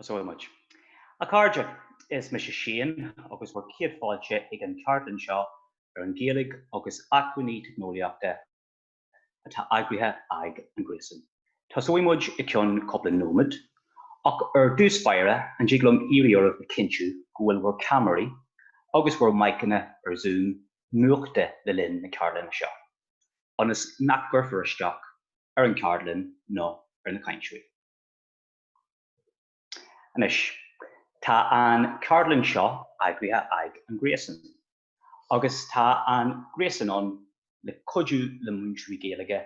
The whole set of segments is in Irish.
Tosóidh muid. A chairde, is mise Shane agus bhur chéad fáilte ag an cheardlann seo ar an Ghaeilge agus Acmhainní Teicneolaíochta. atá eagraithe ag an Gréasán. Tosóidh muid i ceann cúpla nóimead, ach ar dtús báire an dtig liom iarraidh oraibh a chinntiú go bhfuil bhur ceamaraí agus bhur maiceanna ar Zoom múchta le linn na ceardlainne seo, ionas nach gcuirfear isteach ar an gceardlann nó ar na cainteoirí. Anois, tá an ceardlann seo eagraithe aig an Gréasan. agus tá an Gréasán ann le cuidiú le múinteoirí Gaeilge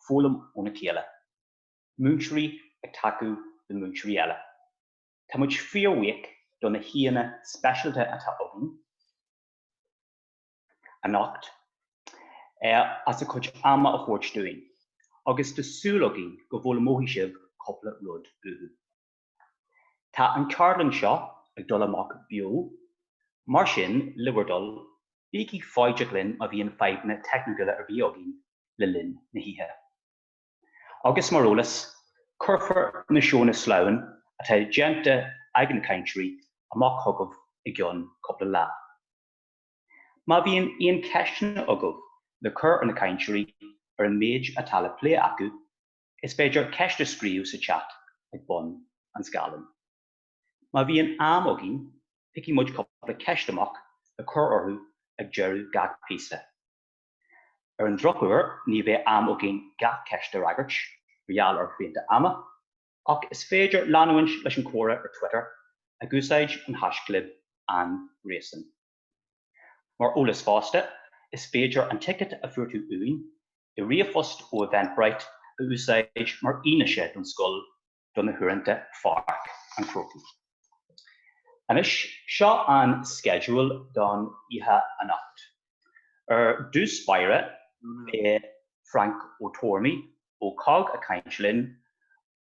foghlaim óna chéile, múinteoirí ag tacú le múinteoirí eile. Tá muid fíorbhuíoch do na haíonna speisialta atá againn anocht as a gcuid ama a thabhairt dúinn agus tá súil againn go bhfoghlaimeoidh sibh cúpla rud uathu. Tá an ceardlann seo ag dul amach beo, mar sin, le bhur dtoil, bígí foighdeach linn má bhíonn fadhbanna teicniúla ar bith againn le linn na hoíche. Agus mar eolas, cuirfear na seónna sleamhain atá déanta ag na cainteoirí amach chugaibh i gceann cúpla lá. Má bhíonn aon cheisteanna agaibh le cur ar na cainteoirí ar an méid atá le plé acu, Is féidir ceist a scríobh sa chat ag bun an scáileáin. Má bhíonn am againn, piocfaidh muid cúpla ceist amach le cur orthu ag deireadh gach píosa. Ar an drochuair, ní bheidh am againn gach ceist a fhreagairt mar gheall ar shrianta ama, ach is féidir leanúint leis an chomhrá ar Twitter ag úsáid an hashchlib An Gréasán. Mar eolas fosta, is féidir an ticéad a fuair tú uainn i ríomhphost ó Eventbrite a úsáid mar fhianaise don scoil do na huaireanta Pháirc an Chrócaigh. Anois, seo an sceideal don oíche anocht. Ar dtús báire, beidh Frank Ó Tormaigh ó COGG ag caint linn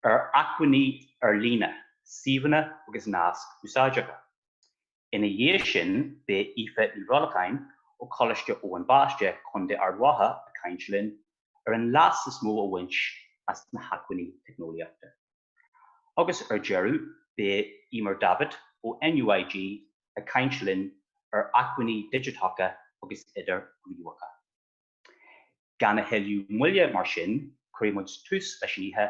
ar acmhainní ar líne, suíomhanna agus naisc úsáideacha. Ina dhiaidh sin beidh Aoife Ní Bhrolcháin ó Choláiste Eoin Baiste, Co. Ard Mhacha ag caint linn ar an leas is mó a bhaint as na hacmhainní teicneolaíochta. Agus ar deireadh beidh Eimear Davitt ó NUIG ag caint linn ar acmhainní digiteacha agus idirghníomhacha. Gan a thuilleadh moille mar sin, cuirfidh muid tús leis an oíche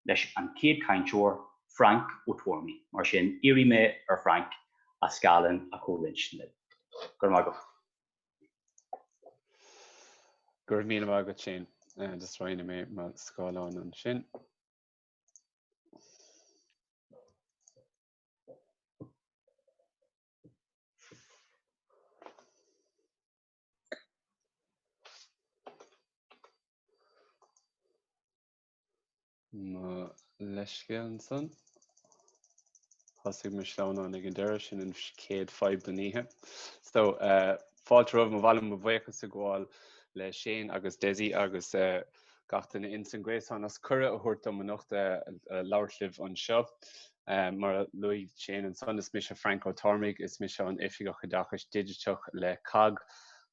leis an chéad chainteoir, Frank Ó Tormaigh. Mar sin, iarrfaidh mé ar Frank a scáileán a chomhroinnt libh. Go raibh maith agat. Go raibh míle maith agat, Shane. Just roinnfidh mé mo scáileán ansin. Mo leithscéal ansan. Thosaigh mo sleamhnán ag an deireadh, sin an chéad fadhb don oíche. So eh, fáilte romhaibh, ba mhaith liom, mo bhuíochas a ghabháil le Shane agus Desi agus eh gach éinne insan gréasán as cuireadh a thabhairt dom anocht eh labhairt libh anseo. Mar a luaigh Shane ansan, is mise Frainc Ó Tormaigh, is mise an Oifigeach Oideachais Digiteach le COGG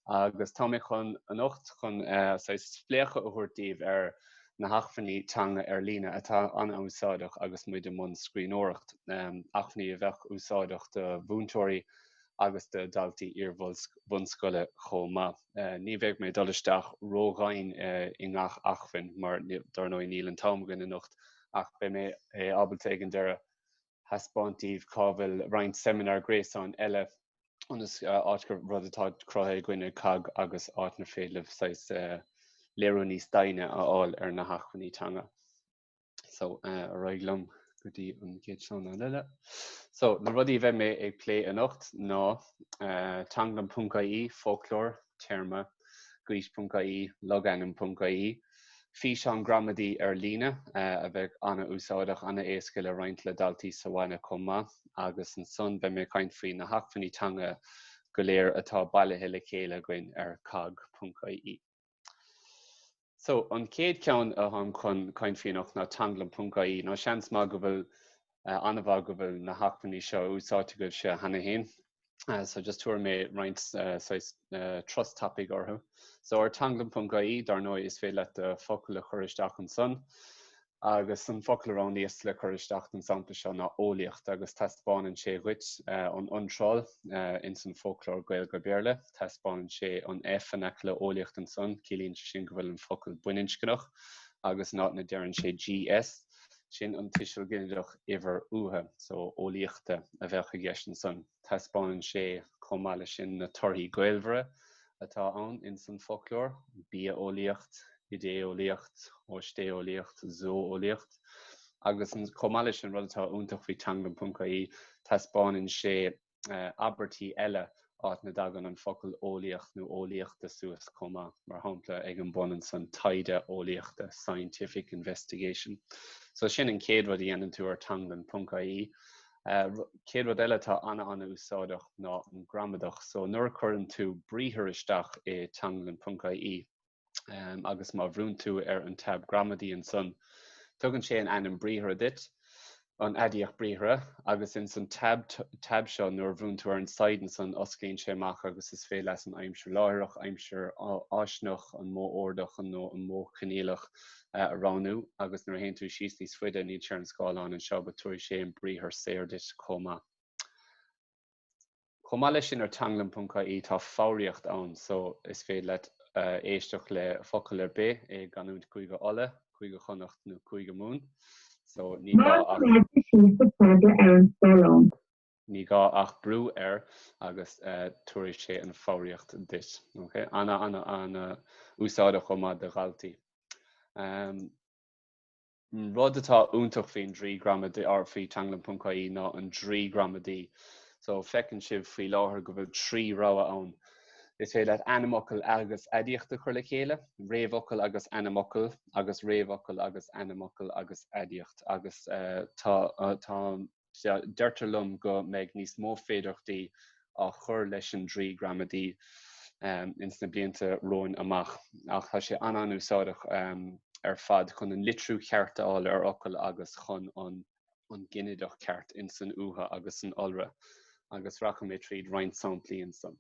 agus tá mé chun anocht chun saghas spléachadh a thabhairt daoibh ar na hacmhainní teanga ar líne atá an-úsáideach agus muid i mbun scríbhneoireacht, acmhainní a bheadh úsáideach do mhúinteoirí agus do dhaltaí iar-bhunscoile chomh maith. Ní bheidh mé ag dul isteach ródhomhain i ngach acmhainn mar dar ndóigh níl an t-am agam anocht, ach beidh mé ábalta ag an deireadh a thaispeáint daoibh cá bhfuil roinnt seimineár gréasáin eile ionas áit gur rud atá cruthaithe againn ag COGG agus áit inar féidir libh saghas léiriú níos doimhne a fháil ar na hacmhainní teanga. So ar aghaidh liom go dtí an chéad sleamhnán eile. So na rudaí a bheidh mé ag plé anocht ná teanglann.ie, foclóir, téarma, gaois.ie, logainm.ie, Físeáin gramadaí ar líne a bheidh an-úsáideach, an-éasca le roinnt le daltaí sa bhaile chomh maith agus ansan beidh mé ag caint faoi na hacmhainní teanga go léir atá bailithe le chéile againn ar cogg.ie. So, an chéad ceann atáim chun caint faoi anocht ná teanglann.ie, nó seans maith go bhfuil an-mhaith go bhfuil na hacmhainní seo úsáidte agaibhse cheana féin. So just tabharfaidh mé roinnt saghas turas tapa orthu. So ar teanglann.ie, dar ndóigh, is féidir leat do focal a chur isteach ansan. Agus an focal a roghnaíos le cur isteach don sampla seo ná eolaíocht agus taispeánann sé dhuit an iontráil ins an Foclóir Gaeilge-Béarla. Taispeánann sé an F in aice le eolaíocht ansan, ciallaíonn sé sin go bhfuil an focal baininscneach agus an áit a ndeireann sé GS Sin an tuiseal ginideach uimhir uatha, so eolaíochta, a bheadh i gceist ansan. Taispeánann sé chomh maith leis sin na torthaí gaolmhara atá ann ins an foclóir, bia-eolaíocht, idé-eolaíocht, oisté-eolaíocht, zó-eolaíocht. Agus chomh maith leis sin, rud atá iontach faoi teanglann.ie, taispeánann sé abairtí eile áit na dtagann an focal eolaíocht nó eolaíochta suas chomh maith, mar shampla ag an bun ansan taighde eolaíochta scientific investigation. So sin an chéad rud a dhéanann tú ar teanglann ponc ie. Chéad rud eile atá ana ana úsáideach ná an gramadach. So nuair a cuireann tú briathar isteach i teanglann ponc ie. agus má bhrúnn tú ar an tab gramadaí ansan tugann sé an ainm briathartha duit, an aidiacht briathartha, agus ins an tab seo nuair a bhrúnn tú ar an side ansan osclaíonn sé amach agus is féidir leat an aimsir láithreach, aimsir fháistineach, an modh ordach nó an modh coinníollach a roghnú agus nuair a théann tú síos níos faide níl sé ar an scáileán anseo but tabharfaidh sé an briathar saor duit chomh maith. Chomh maith leis sin ar teanglann.ie tá foghraíocht ann so is féidir leat éisteacht le focal ar bith i gcanúint Chúige Uladh, Cúige Chonnacht nó Cúige Mumhan so ní gá ach. brú air agus tabharfaidh sé an foghraíocht duit. OK? Ana ana úsáideach chomh maith do dhaltaí. An rud atá iontach faoin draoi gramadaí or faoi Teanglann.ie ná an draoi gramadaí. So feiceann sibh faoi láthair go bhfuil trí rogha ann. Is féidir leat ainmfhocal agus aidiacht a chur le chéile, réamhfhocal agus ainmfhocal, agus réamhfhocal agus ainmfhocal agus aidiacht agus tá, deirtear liom go mbeidh níos mó féidearthachtaí á chur leis an Draoi Gramadaí ins na blianta romhainn amach, ach tá sé an-an-úsáideach ar fad chun an litriú cheart a fháil ar fhocail agus chun an ginideach ceart ins an uathu agus san iolra, agus rachaidh mé tríd roinnt samplaí ansan.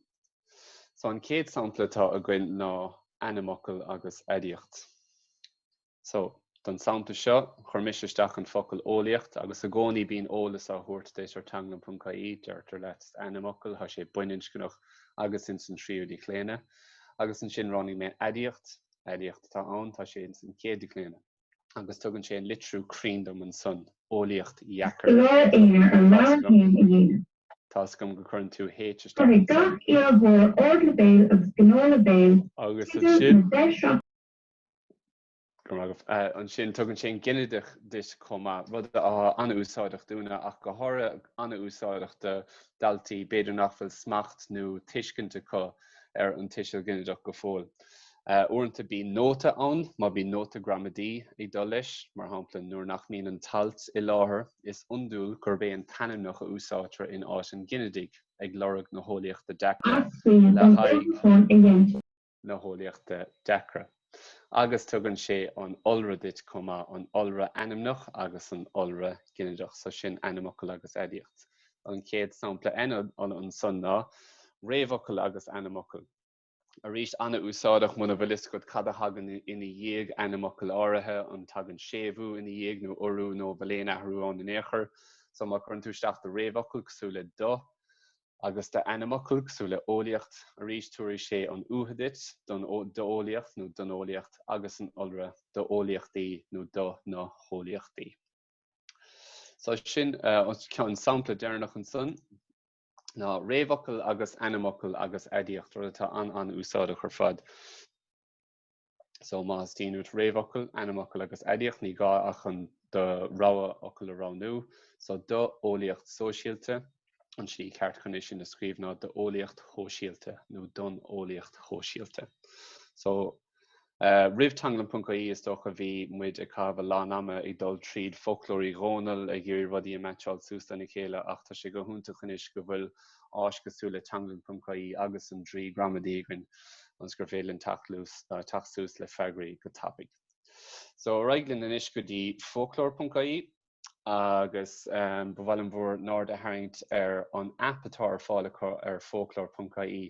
So, an chéad sampla atá againn ná ainmfhocal agus aidiacht. So, don sampla seo, chuir mise isteach an focal eolaíocht agus i gcónaí bíonn eolas á thabhairt duit ar teanglann.ie, deirtear leat ainmfhocal, tá sé baininscneach agus ins an tríú díochlaonadh, agus ansin roghnaigh mé aidiacht, aidiacht atá ann, tá sé ins an chéad díochlaonadh. Agus tugann sé an litriú cruinn dom ansan, eolaíocht dheacair tá 's agam go cuireann tú H isteach ansan. Agus ansin. Ansin tugann sé an ginideach duit chomh maith, rud atá an-úsáideach dúinne ach go háirithe an-úsáideach do dhaltaí b'fhéidir nach bhfuil smacht nó tuiscint acu ar an tuiseal ginideach go fóill. Uaireanta bíonn nóta ann má bhíonn nóta gramadaí ag dul leis, mar shampla nuair nach mbíonn an t-alt i láthair, is iondúil gurb é an t-ainmneach a úsáidtear in áit an ghinidigh, ag lorg na heolaíochta deacra le haghaidh. na heolaíochtaí deacra agus tugann sé an iolra duit chomh maith, an iolra ainmneach agus an iolra ginideach, so sin ainmfhocal agus aidiacht. An chéad sampla ansan ná réamhfhocal agus ainmfhocal. Arís, an-úsáideach muna bhfuil fhios agat cad a thagann ina dhiaidh ainmfhocal áirithe, an tagann séimhiú ina dhiaidh nó urú nó an bhfuil aon athrú ann in aon chor. So má chuireann tú isteach do réamhfhocal cosúil le 'do', Agus d'ainmfhocal cosúil le eolaíocht, arís tabharfaidh sé an t-uatha duit, don, d'eolaíocht nó don eolaíocht, agus an iolra, do eolaíochtaí nó do na heolaíochtaí. So sin an sampla deireanach ansan ná réamhfhocal agus ainmfhocal agus aidiacht, rud atá an-an-úsáideach ar fad. So má theastaíonn uait réamhfhocal, ainmfhocal agus aidiacht ní gá ach an do rogha fhocal a roghnú. So do eolaíocht sóisialta, an tslí ceart chun é sin a scríobh ná do eolaíocht shóisialta nó don eolaíocht shóisialta. So roimh Teanglann.ie is dócha bhí muid ag caitheamh a lán ama ag dul tríd foclóir Uí Dhónaill ag iarraidh rudaí a mheaitseáil suas lena chéile ach tá sé go hiontach anois go bhfuil áis cosúil le teanglann.ie agus an draoi gramadaí againn ionas gur féidir linn teacht suas le freagraí go tapaidh. So, ar aghaidh linn anois go dtí foclóir.ie agus ba mhaith liom bhur n-aird a tharraingt ar an aip atá ar fáil acu ar foclóir.ie.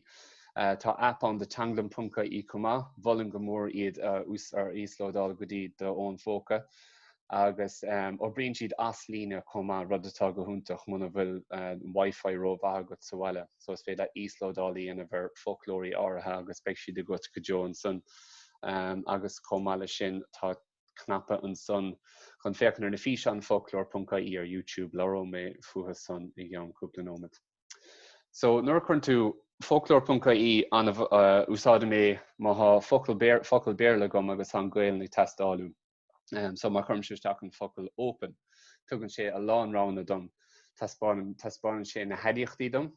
Tá aip ann do teanglann.ie chomh maith, mholfainn go mór iad a íoslódáil go dtí do fhón póca. agus oibríonn siad as líne chomh maith, rud atá go hiontach muna bhfuil an wifi ró-mhaith agat sa bhaile. So is féidir leat íoslódáil a dhéanamh ar foclóirí áirithe agus beidh siad agat go deo ansan. Agus chomh maith leis sin tá cnaipe ansan chun féachaint ar na físeáin foclóir.ie ar YouTube, labhróidh mé fúthu san i gceann cúpla nóiméad. So nuair a chuireann tú foclóir.ie, úsáidim é má tá focal Béarla agam agus tá an Ghaolainn ag teastáil uaim. so má chuirimse isteach an focal open tugann sé a lán roghanna dom, taispeánann taispeánann sé na haidiachtaí dom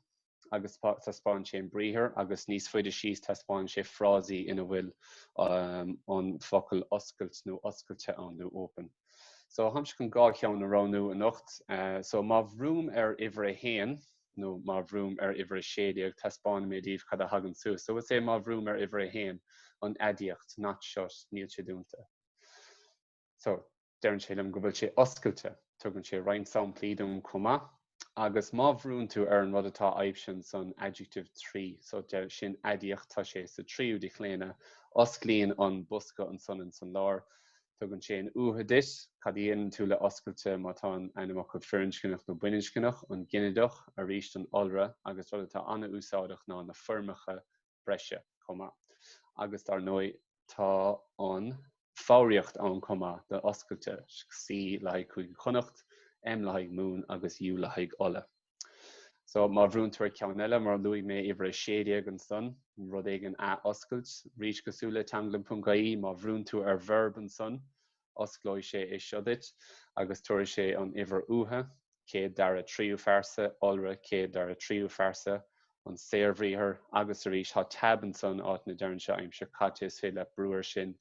agus taispeánann sé an briathar agus níos faide síos taispeánann sé frásaí ina bhfuil an focal oscailt nó oscailte ann nó open. So tháimse chun dhá cheann a roghnú anocht, so má bhrúim ar uimhir a haon nó má bhrúim ar uimhir 16 taispeánfaidh mé daoibh cad a thagann suas. So is é má bhrúim ar uimhir 1 an aidiacht, not shut, níl sé dúnta. So deireann sé liom go bhfuil sé oscailte. Tugann sé roinnt samplaí dom chomh maith. Agus má bhrúnn tú ar an rud atá aibhsithe ansan adjective trí, so deir, sin aidiacht, tá sé sa tríú díochlaonadh, osclaíonn an bosca ansan insan lár, Tugann sé an uatha duit, cad a dhéanann tú le oscailte má tá an ainmfhocal firinscneach nó baininscneach, an ginideach, arís an iolra, agus rud atá an-úsáideach ná na foirmeacha breise chomh maith. Agus dár ndóigh tá an foghraíocht ann chomh maith do oscailte, C le haghaidh Cúige Chonnacht, M le haghaidh Mumhan agus U le haghaidh Uladh. So, má bhrúnn tú ar ceann eile, mar a luaigh mé, uimhir a sé déag ansan, rud éigin a oscailt, rís cosúil le teanglann.ie, má bhrúnn tú ar verb ansan, osclóidh sé é seo duit, agus tabharfaidh sé an uimhir uatha, céad dara tríú phearsa, iolra, céad dara tríú phearsa, an saorbhriathar agus arís tá tab ansan áit a ndeireann sé aimsir caite is féidir leat brú ar sin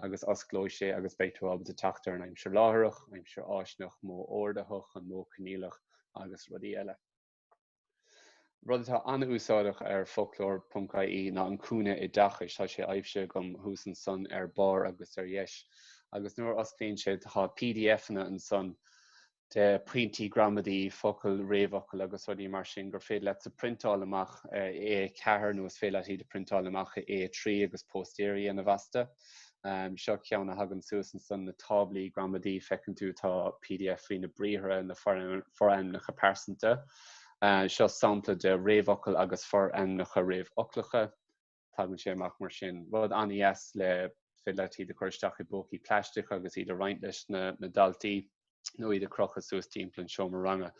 agus osclóidh sé agus beidh tú ábalta teacht ar an aimsir láithreach, aimsir fháistineach, modh ordaitheach, an modh coinníollach agus rudaí eile. Rud atá an-úsáideach ar foclóir ponc ie ná an cúinne oideachais tá sé aibhsithe agam thuas ansan ar barr agus ar dheis agus nuair a osclaíonn sé tá pdf-anna ansan de pointí gramadaí, focail, réamhfhocail agus rudaí mar sin gur féidir leatsa priontáil amach i A4 nó is féidir leat iad a phriontáil amach i A3 agus póstaeirí a dhéanamh astu. Seo ceann a thagann suas ansan na táblaí gramadaí feiceann tú tá pdf faoi na briathra, na forainmneacha pearsanta. Seo sampla de réamhfhocal agus forainmneacha réamhfhoclacha. tagann sé amach mar sin. Rud an-deas le is féidir leat iad a chur isteach i bpócaí plaisteacha agus iad a roinnt leis na daltaí nó iad a crochadh suas timpeall an seomra ranga.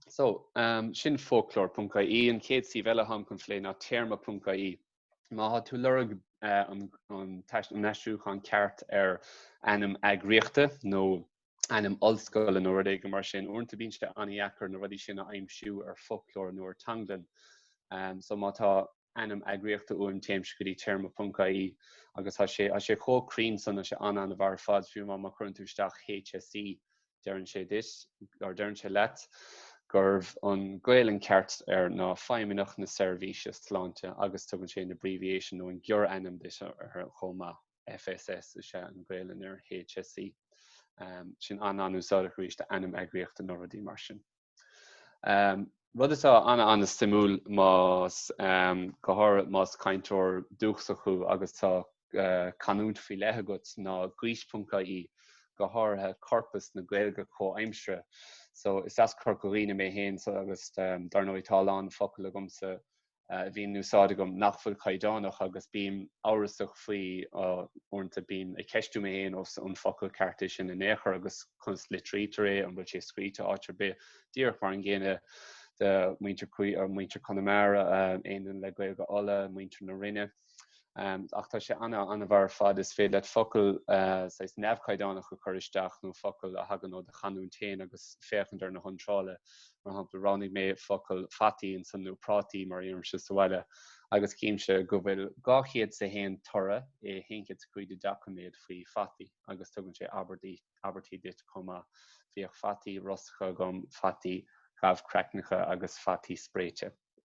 So, um, sin foclóir.ie, an chéad suíomh eile atáim chun plé ná téarma.ie. Má tá tú lorg uh, an, an, an aistriúchán ceart ar ainm eagraíochta nó ainm ollscoile nó rud éigin mar sin. Uaireanta bíonn sé an-deacair na rudaí sin a aimsiú ar foclóir nó ar teanglann. So má tá ainm eagraíochta uaim téimse go dtí téarma.ie agus tá sé tá sé chomh cruinn san, tá sé an-an-mhaith ar fad. Fiú amháin má chuireann tú isteach HSE deireann sé duit, or deireann sé leat, gurb an Gaolainn ceart air ná Feidhmeannacht na Seirbhíse Sláinte agus tugann sé an abbreviation nó an gearrainm duit chomh maith. FSS is ea an Gaolainn ar HSE. Sin an-an-úsáideach arís do ainm eagraíochta nó rudaí mar sin. Rud atá an-suimiúil más go háirithe más cainteoir dúchais thú agus tá canúint faoi leith agat ná Gaois.ie, go háirithe corpas na Gaeilge comhaimseartha. So is as Corca Dhuibhne mé féin so agus dar ndóigh tá a lán focal agamsa a bhíonn in úsáid agam nach bhfuil caighdeánach agus bím amhrasach faoi, uaireanta bím ag ceistiú mé féin ó an focal ceart é sin in aon chor agus conas a litrítear é, an bhfuil sé scríte áit ar bith, díreach mar an gcéanna do mhuintir Conamara, éinne le Gaeilge Uladh, muintir na Rinne. ach tá sé ana-mhaith ar fad is féidir leat focail saghas neamhchaighdeánach a chur isteach nó focail a thagann ó do chanúint féin agus féachaint ar na hiontrála. Mar shampla, roghnaigh mé focail fataí ansan nó prátaí mar a deirimse sa bhaile agus chímse go bhfuil 201 toradh i 105 doiciméad faoi fataí agus tugann sé abairtí duit chomh maith. Bhíodh fataí rósta agam, fataí gabhchraicneacha agus fataí spréite.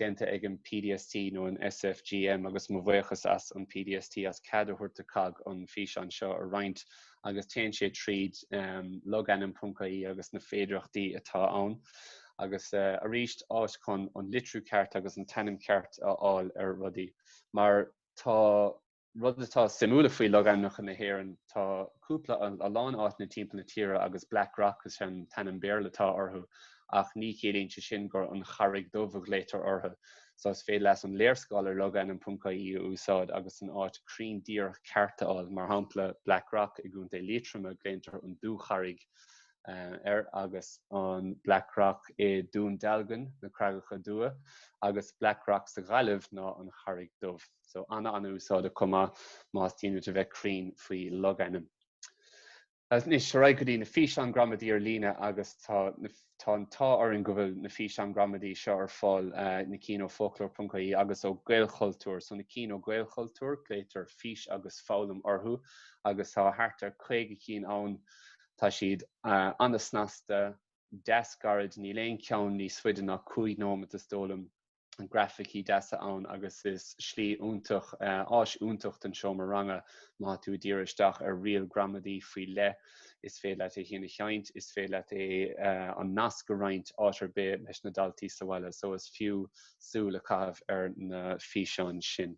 déanta ag an PDST nó an SFGM agus mo bhuíochas leis an PDST as cead a thabhairt do COGG an físeán seo a roinnt agus téann sé tríd logainm.ie agus na féidireachtaí atá ann agus arís áit chun an litriú ceart agus an t-ainm ceart a fháil ar rudaí mar tá Rud atá suimiúil faoi logainmneacha na hÉireann, tá cúpla, a lán áiteanna timpeall na tíre agus Black Rock is ea an t-ainm Béarla atá orthu ach ní chiallaíonn sé sin gur An Charraig Dhubh a ghlaotar orthu. Só is féidir leat an léarscáil ar logainm.ie a úsáid agus an áit cruinn díreach ceart a fháil. Mar shampla, Black Rock i gContae Liatroma, glaotar An Dúcharraig air agus an Black Rock i Dún Dealgan, Na Creagacha Dubha, agus Black Rock sa Ghaillimh ná An Charraig Dhubh. so ana an-úsáideach chomh maith má tá uait a bheith cruinn faoi logainm. Anois ar aghaidh go dtí na físeáin gramadaí ar líne agus tá tá an t-ádh orainn go bhfuil na físeáin gramadaí seo ar fáil na cinn ó foclóir.ie agus ó Gaelchultúr. So na cinn ó Gaelchultúr glaoitear Fís agus Foghlaim orthu agus tá thart ar 50 cinn ann. Tá siad ana snasta, deas gairid, níl aon cheann níos faide ná 5 nóimeat is dóigh liom. graificí deasa ann agus is slí iontach, áis iontach don seomra ranga má tá tú ag díriú isteach ar riail gramadaí faoi leith. Is féidir leat é a sheinnt, is féidir leat é, an nasc a roinnt áit ar bith leis na daltaí sa bhaile so is fiú súil a chaitheamh ar na físeáin sin.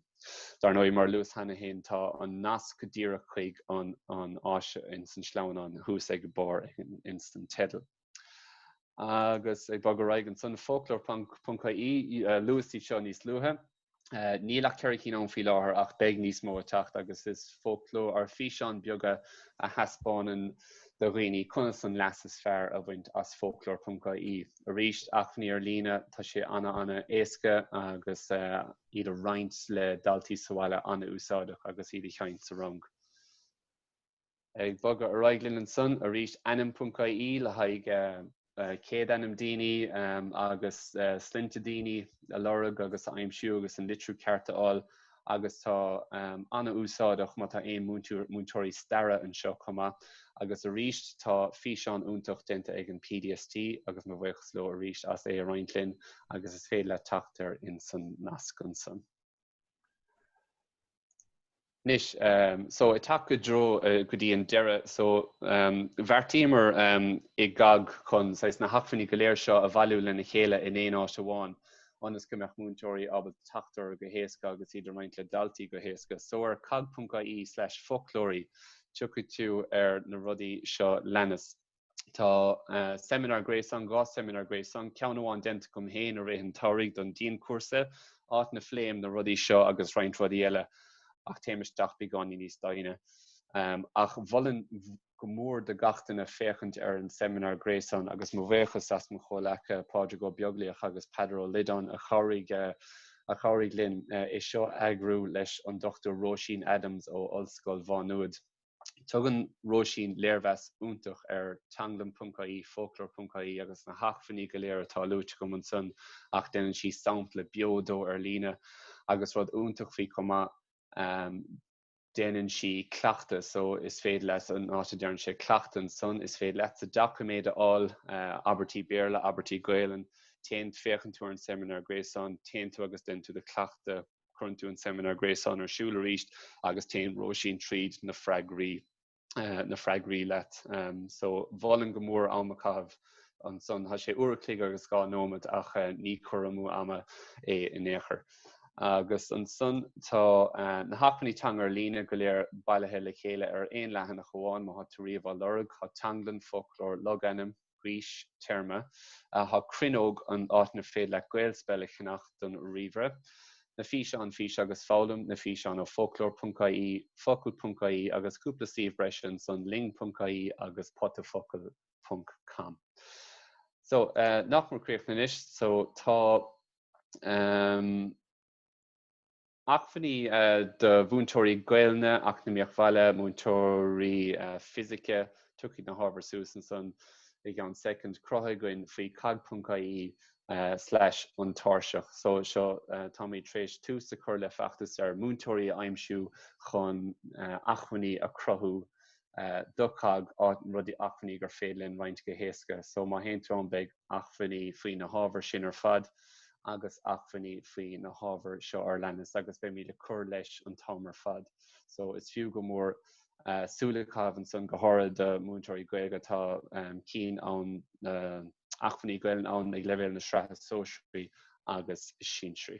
Dár ndóigh, mar a luas cheana féin, tá an nasc díreach chuig an áis ins an sleamhnán thuas ag barr ins an teideal. Agus ag bogadh ar aghaidh ansan, foclóir.ie, luas iad seo níos luaithe. Níl ach ceithre cinn ann faoi láthair ach beidh níos mó ag teacht agus is foclóir ar físeáin beaga a thaispeánann do dhaoine conas an leas is fearr a bhaint as foclóir.ie. Arís, acmhainní ar líne, tá sé ana ana éasca agus iad a roinnt le daltaí sa bhaile an-úsáideach agus iad a sheinnt sa rang. Ag bogadh ar aghaidh linn ansan arís ainm.ie le haghaidh céadainm daoine agus sloinnte daoine a lorg agus a aimsiú agus an litriú ceart a fháil agus tá an-úsáideach má tá aon múinteoirí staire anseo chomh maith. Agus arís tá físeán iontach déanta ag an PDST agus mo bhuíochas leo arís as é a roinnt linn agus is féidir leat teacht air insan nasc ansan. Anois, so, ag teacht i dtreo go dtí an deireadh, so, bheartaíomar i gCOGG chun, saghas, na hacmhainní go léir seo a bhailiú lena chéile in aon áit amháin ionas go mbeadh múinteoirí ábalta teacht orthu go héasca agus iad a roinnt le daltaí go héasca. So, ar cogg.ie/foclóirí tiocfaidh tú ar na rudaí seo a leanas. Tá seimineár gréasáin, dhá seimineár gréasáin, ceann amháin déanta agam féin i rith an tsamhraidh don dianchúrsa, áit na phléim na rudaí seo agus roinnt rudaí eile ach téim isteach beagáinín níos doimhne. Ach mholfainn go mór do gach duine féachaint ar an seimineár gréasáin agus mo bhuíochas le mo chomhleacaithe Pádraig Ó Beaglaoich agus Peadar Ó Loideáin a chabhraigh a chabhraigh linn é seo a eagrú leis an Dr Róisín Adams ó Ollscoil Mhá Nuad. Tugann Róisín léirmheas iontach ar Teanglann.ie, Foclóir.ie agus na hacmhainní go léir atá luaite agam ansan ach déanann sí sampla beo de ar líne agus rud iontach faoi chomh maith déanann sí cleachtadh so is féidir leat san áit a ndéanann sí cleachtadh ansan is féidir leatsa doiciméad a fháil, abairtí Béarla, abairtí Gaelainn, téann, féachann tú ar an seimineár gréasáin, téann tú agus déanann tú do chleachtadh. Cuireann tú an seimineár gréasáin ar siúl arís agus téann Róisín tríd na freagraí na freagraí leat. So mholfainn go mór am a caitheamh ansan. Tá sé uair a chloig agus dhá nóiméad ach ní cur amú ama é in aon chor. Agus ansan tá na hacmhainní teanga ar líne go léir bailithe le chéile ar aon leathanach amháin. Má tá tú riamh á lorg tá Teanglann, Foclóir, Logainm, Gaois, Téarma tá Cruinneog, an áit inar féidir leat GaelSpell a cheannach don ríomhaire. Na físeáin, Fís agus Foghlaim Na físeáin ó foclóir.ie, focal.ie agus cúpla suíomh breise ansan ling.ie agus potafocal ponc com. So, nach mór críochnaithe anois, so tá. Acmhainní do mhúinteoirí Gaelainne, Eacnamaíocht Bhaile, Múinteoirí Fisice, tiocfaidh na hábhair suas ansan i gceann soicind, cruthaithe againn faoi cogg.ie slash an tairseach so seo táimid tar éis tús a chur le feachtas ar mhúinteoirí a aimsiú chun acmhainní a chruthú do COGG áit rudaí acmhainní gur féidir linn roinnt go héasca. So má théann tú ann beidh acmhainní faoi na hábhair sin ar fad agus acmhainní faoi na hábhair seo a leanas agus beimid ag cur leis an t-am ar fad. So is fiú go mór súil a chaitheamh ansan go háirithe do mhúinteoirí Gaeilge tá cinn ann acmhainní Gaolainne ann ag leibhéal na sraithe sóisearaí agus sinsearaí.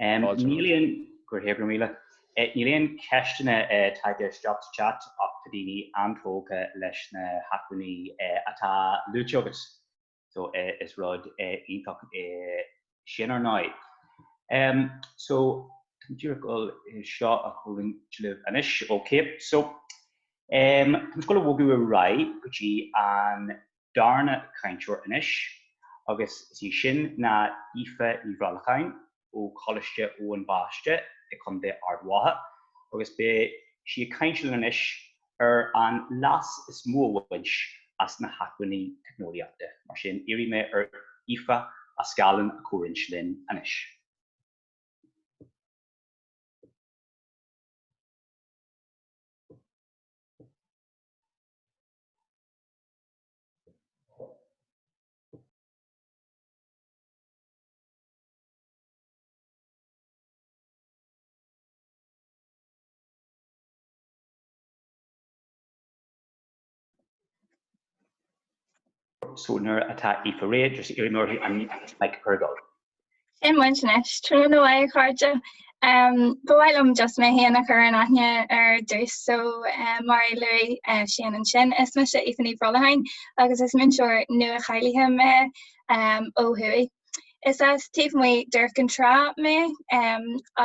Níl aon, go raibh míle. Níl aon ceisteanna tagtha isteach sa chat ach tá daoine an-tógtha leis na hacmhainní atá luaite agat so is rud iontach é sin ar ndóigh. So díreach chun é seo a chomhroinnt libh anois. Ok so táimse ag gabháil a bhogadh ar aghaidh go dtí an darna cainteoir anois agus is í sin ná Aoife Ní Bhrolcháin ó Choláiste Eoin Baiste i gCo. Ard Mhacha agus beidh sí ag caint linn anois ar an leas is mó a bhaint as na hacmhainní teicneolaíochta. Mar sin, iarrfaidh mé ar Aoife a scáileán a chomhroinnt linn anois. so nuair atá Aoife Ray agus iarraidh orthu an Mike Purgold. Sin muid anois, tráthnóna mhaith a chairde. Ba mhaith liom just mé féin a chur in aithne ar dtús. So mar a luaigh Seán ansin, is mise Aoife Ní Bhrolcháin agus is múinteoir nua-cháilithe mé ó thuaidh. Is as taobh amuigh d'Iúr Cinn Trá mé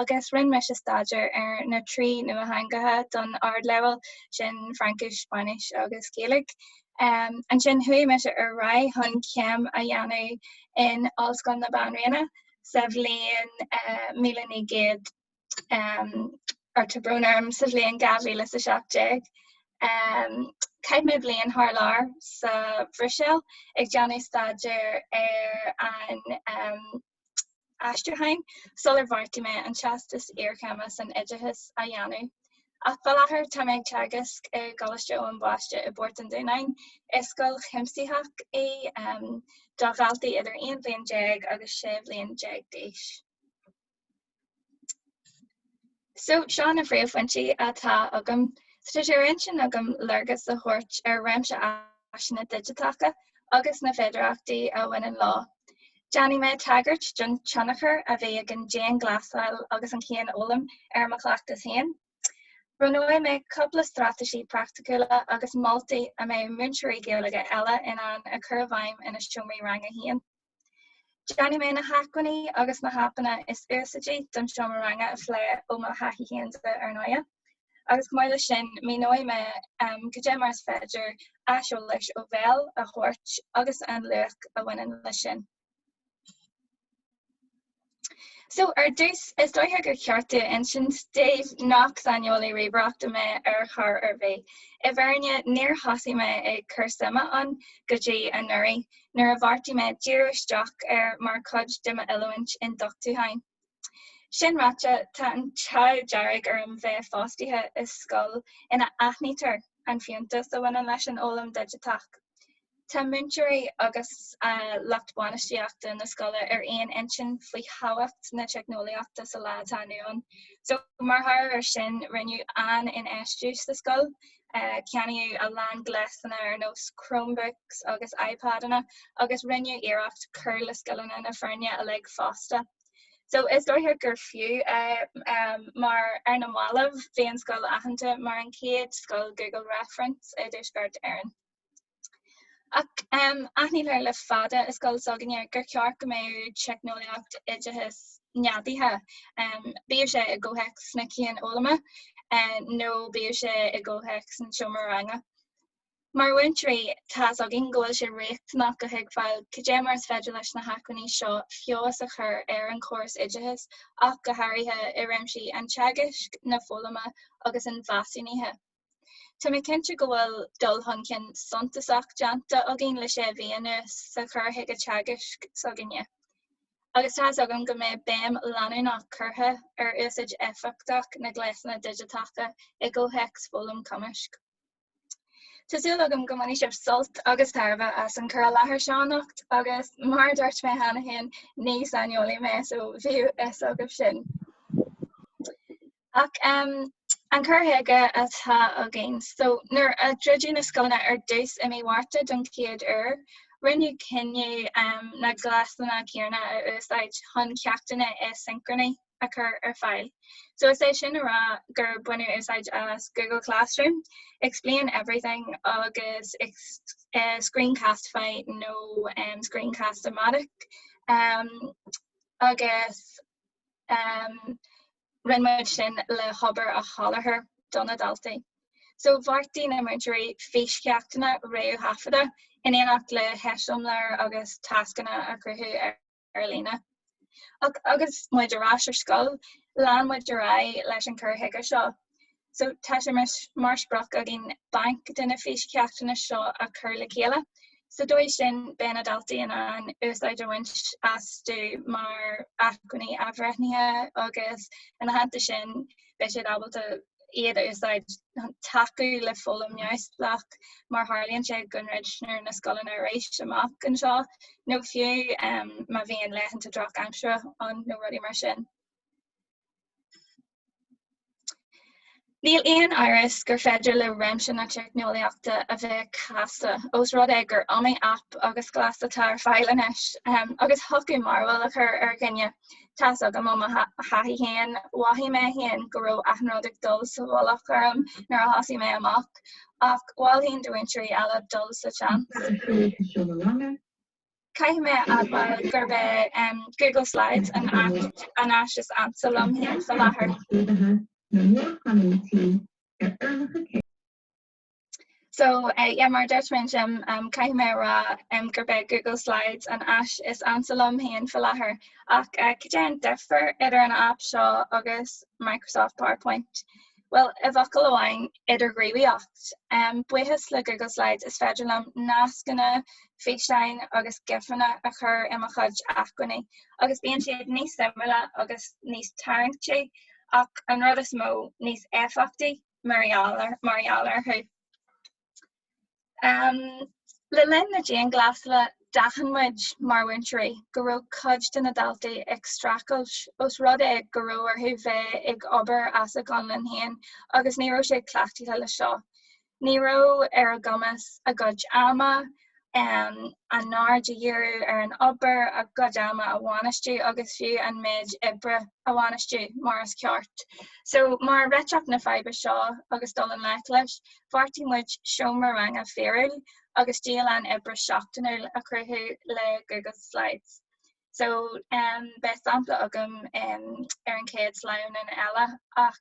agus rinne mise staidéar ar na trí nuatheangacha don ardleibhéal, sin Fraincis, Spáinnis agus Gaeilge. Ansin chuaigh mise ar aghaidh chun céim a dhéanamh in Ollscoil na Banríona sa bhliain míle naoi gcéad ó tá brón orm sa bhliain dhá mhíle is a seacht déag. Chaith mé bliain thar lear sa Bhruiséil ag déanamh staidéir ar an aistriúchán sular bheartaigh mé an Teastas Iarchéime san Oideachas a dhéanamh. Ach faoi láthair tá mé ag teagasc i gColáiste Eoin Baiste i bPort an Dúnáin. Is scoil chuimsitheach í, do dhaltaí idir aon bliain déag agus sé bliain déag d'aois. So, seo na príomhphointí atá agam. Tá sé ar intinn agam léargas a thabhairt ar réimse áiseanna digiteacha agus na féidearthachtaí a bhaineann leo. Déanfaidh mé tagairt don tionchar a bhí ag an dianghlasáil agus an cianfhoghlaim ar mo chleachtas féin. Roinnfidh mé cúpla straitéisí praiticiúla agus moltaí a mbeidh múinteoirí Gaeilge eile in ann a chur i bhfeidhm ina seomraí ranga féin. Déanfaidh mé na hacmhainní agus na haipeanna is úsáidí don seomra ranga a phlé ó mo thaithí féin, dar ndóigh, agus chomh maith leis sin míneoidh mé cad é mar is féidir aiseolas ó bhéal a thabhairt agus an luach a bhaineann leis sin. So ar dtús, is dóiche gur cheart domh insint daoibh nach saineolaí ríomhaireachta mé ar chor ar bith. I bhfírinne, níor thosaigh mé ag cur suime ann go dtí anuraidh, nuair a bheartaigh mé díriú isteach air mar chuid de m'oiliúint ionduchtúcháin. Sin ráite, tá an t-ádh dearg orm bheith fostaithe i scoil ina aithnítear an fiúntas a bhaineann leis an fhoghlaim dhigiteach. Tá múinteoirí agus lucht bainistíochta na scoile ar aon intinn faoi thábhacht na teicneolaíochta sa lá atá inniu ann. So, mar thoradh ar sin, rinneadh an-infheistiú sa scoil. Ceannaíodh a lán gléasanna ar nós Chromebooks agus iPadanna agus rinneadh iarracht cur le scileanna na foirne uilig fosta. So, is dóiche gur fiú é mar, ar na mallaibh, bhí an scoil aitheanta mar an chéad scoil Google Reference i dTuaisceart Éireann. Ach aithnítear le fada i scoil s'againne gur cheart go mbeadh teicneolaíocht oideachais neadaithe, bíodh sé i gcomhthéacs na cianfhoghlama nó bíodh sé i gcomhthéacs an tseomra ranga. Mar mhúinteoirí, tá's againn go bhfuil sé riachtanach go dtuigfí cad é mar is féidir leis na hacmhainní seo feabhas a chur ar an chóras oideachais ach go háirithe i réimsí an teagaisc, na foghlama agus an mheasúnaithe. Tá mé cinnte go bhfuil dul chun cinn suntasach déanta againn le sé mhí anuas sa chur chuige teagaisc s'againne agus tá a fhios agam go mbeidh béim leanúnach curtha ar úsáid éifeachtach na gléasanna digiteacha i gcomhthéacs foghlaim cumaisc. Tá súil agam go mbainfidh sibh sult agus tairbhe as an cur i láthair seo anocht agus mar a dúirt mé cheana féin ní saineolaí mé so bíodh a fhios agaibh sin! Ach an cur chuige atá againn. So, nuair a druideadh na scoileanna ar dtús i mí Mhárta don chéad uair, rinneadh cinneadh na gléasanna céanna a úsáid chun ceachtanna aisincrónacha a chur ar fáil. So is é sin a rá gur baineadh úsáid as Google Classroom, Explain Everything agus Screencastify nó Screencast-O-Matic agus Rinne muid sin le hobair a sholáthar do na daltaí. So bheartaigh na múinteoirí físcheachtanna réamhthaifeadta in éineacht le heiseamláir agus tascanna a chruthú ar líne. Ach agus muid ar ais ar scoil, lean muid ar aghaidh leis an chur chuige seo. So tá sé mar sprioc againn banc de na físcheachtanna seo a chur le chéile. Sa dóigh sin beidh na daltaí in ann úsáid a bhaint astu mar acmhainní athbhreithnithe agus ina theannta sin beidh siad ábalta iad a úsáid chun tacú le foghlaim neamhspleách má tharlaíonn sé go ndruidtear na scoileanna arís amach anseo nó fiú má bhíonn laethanta drochaimsire ann nó rudaí mar sin. Níl aon amhras gur féidir le réimse na teicneolaíochta a bheith casta, ós rud é gur iomaí aip agus gléas atá ar fáil anois, agus thiocfadh mearbhall a chur ar dhuine. Tá's agam ó mo thaithí féin, mhothaigh mé féin go raibh achan rud ag dul sa mhullach orm nuair a thosaigh mé amach, ach mholfainn do mhúinteoirí eile dul sa tseans. Caithfidh mé a admháil gurb é Google Slides an aip, an áis is ansa liom féin fá láthair. So, yeah, mar a dúirt mé ansin, caithfidh mé a rá gurb é Google Slides an áis is ansa liom féin fá láthair. Ach cad é an difear idir an aip seo agus Microsoft PowerPoint? Bhuel, i bhfocal amháin, idirghníomhaíocht. Buíochas le Google Slides is féidir liom nascanna, físeáin agus GIFeanna a chur i mo chuid acmhainní agus bíonn siad níos suimiúla agus níos tarraingtí ach an rud is mó, níos éifeachtaí mar gheall orthu. Um, le linn na dianghlasála, d'aithin muid mar mhúinteoirí go raibh cuid de na daltaí ag streachailt os rud é go raibh orthu bheith ag obair as a gconlán féin agus ní raibh siad cleachtaithe leis seo. Ní raibh ar a gcumas a gcuid ama, um a n-aird a dhíriú ar an obair a gcuid ama a bhainistiú agus fiú an méid oibre a bhainistiú mar is ceart. So mar réiteach na faidhbe seo agus dul i ngleic leis, bheartaigh muid seomra ranga fíorúil agus dialann oibre seachtainiúil a chruthú le Google Slides. So beidh sampla agam ar an chéad sleamhnan eile ach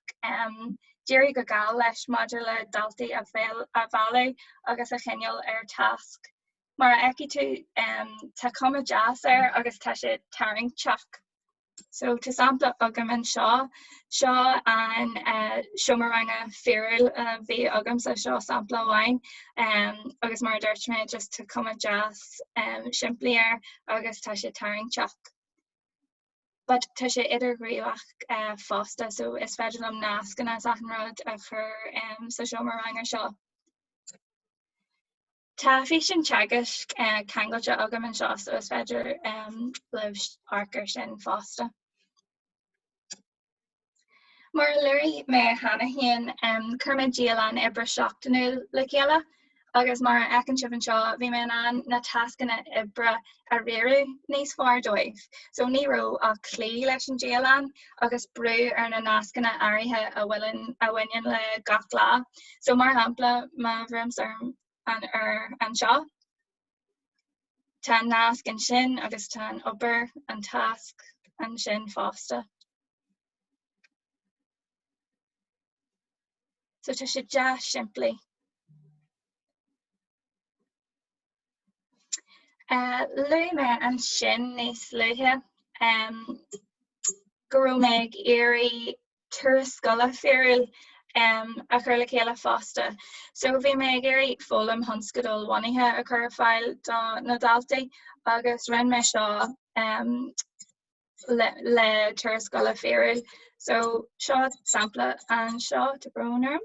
d'éirigh go geal leis maidir le daltaí a mhealladh agus a choinneáil ar tasc. Mar a fheicfidh tú tá cuma deas air agus tá sé tarraingteach. So tá sampla agam anseo Seo an seomra ranga fíorúil a bhí agamsa seo sampla amháin agus mar dúirt mé just tá cuma deas simplí air agus tá sé tarraingteach. But tá sé idirghníomhach eh, fosta so is féidir liom nascanna is achan rud a chur sa seomra ranga seo. Tá físeán teagaisc ceangailte agam anseo so is féidir libh amharc air sin fosta. Mar a luaigh mé cheana féin, chuir mé dialann oibre seachtainiúil le chéile agus mar a fheiceann sibh anseo, bhí mé in ann na tascanna oibre a a riaradh níos fearr dóibh so ní raibh ach cloí leis an dialann agus brú ar na nascanna áirithe a bhaineann le gach lá so mar shampla má bhrúimse ar ar anseo tá an nasc ansin agus tá an obair an tasc ansin fosta. So tá sé deas simplí. Luaigh mé ansin níos luaithe go raibh mé ag iarraidh turas scoile fíorúil a chur le chéile fosta. So bhí mé ag iarraidh foghlaim thionscadalbhunaithe a chur ar fáil do na daltaí agus rinne mé seo le le turas scoile fíorúil. So seo sampla anseo tá brón orm.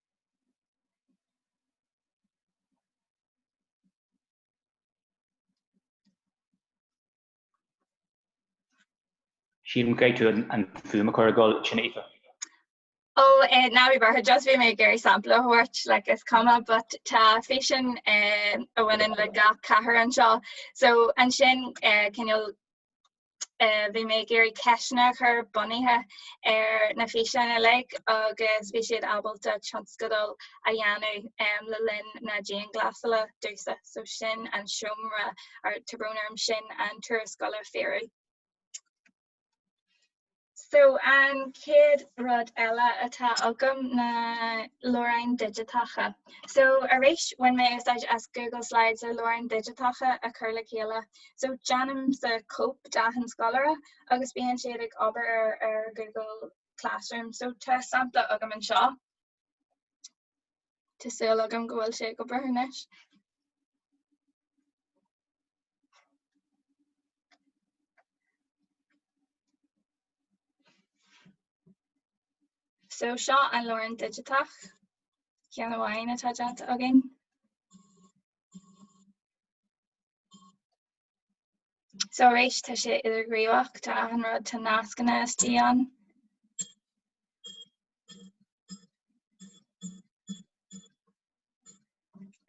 Sílim go gcaithfidh tú an fhuaim a chur ag dul sin Aoife. Oh eh ná bí buartha just bhí mé ag iarraidh sampla a thabhairt like is cuma but tá físeán eh a bhaineann le gach cathair anseo so ansin eh cineál eh, bhí mé ag iarraidh ceisteanna a chur bunaithe ar na físeáin uilig agus bhí siad ábalta tionscadal a dhéanamh um, le linn na dianghlasála dóibhsean. So sin an seomra ar tá brón orm sin an turas scoile fíorúil. So an chéad rud eile atá agam ná leabhráin digiteacha. So arís bhain mé úsáid as Google Slides le leabhráin digiteacha a chur le chéile. So déanaimse cóip d'achan scoláire agus bíonn siad ag obair ar ar Google Classroom. So tá sampla agam anseo. Tá súil agam go bhfuil sé ag obair anois. So seo an leabhrán digiteach ceann amháin atá déanta againn. So arís tá sé idirghníomhach tá achan rud tá nascanna istigh ann.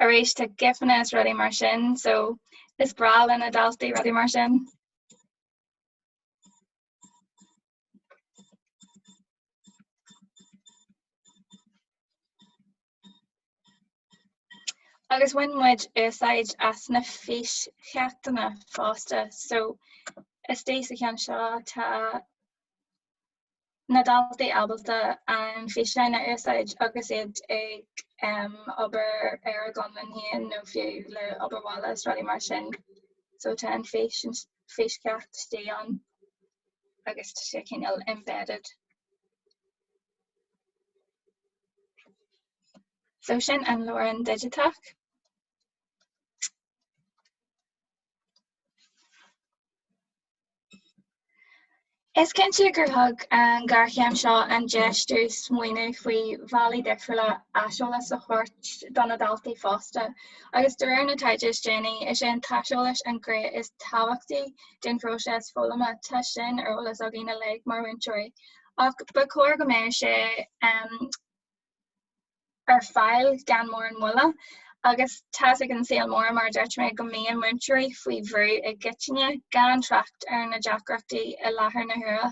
Arís tá gifanna is rudaí mar sin so is breá le na daltaí rudaí mar sin. Agus bhain muid úsáid as na físcheachtanna fosta so is dóigh sa cheann seo tá na daltaí ábalta na físeáin a úsáid agus iad ag obair ar a gconlán féin nó fiú le obair bhaile is rudaí mar sin so tá an fís an físcheacht istigh ann agus tá sé cineál embedded. So sin an leabhrán digiteach. Is cinnte gur thug an géarchéim seo an deis dúinn smaoineamh faoi bhealaí difriúla aiseolas a thabhairt do na daltaí fosta agus de réir na taighde is déanaí, is é an t-aiseolas an ghné is tábhachtaí den phróiseas foghlama, tá sin ar eolas againn uilig mar mhúinteoirí ach ba chóir go mbeadh sé ar fáil gan mórán moille. Agus tá's ag an saol mór, mar a dúirt mé, go mbíonn múinteoirí faoi bhrú i gcoitinne, gan trácht ar na deacrachtaí i láthair na huaire.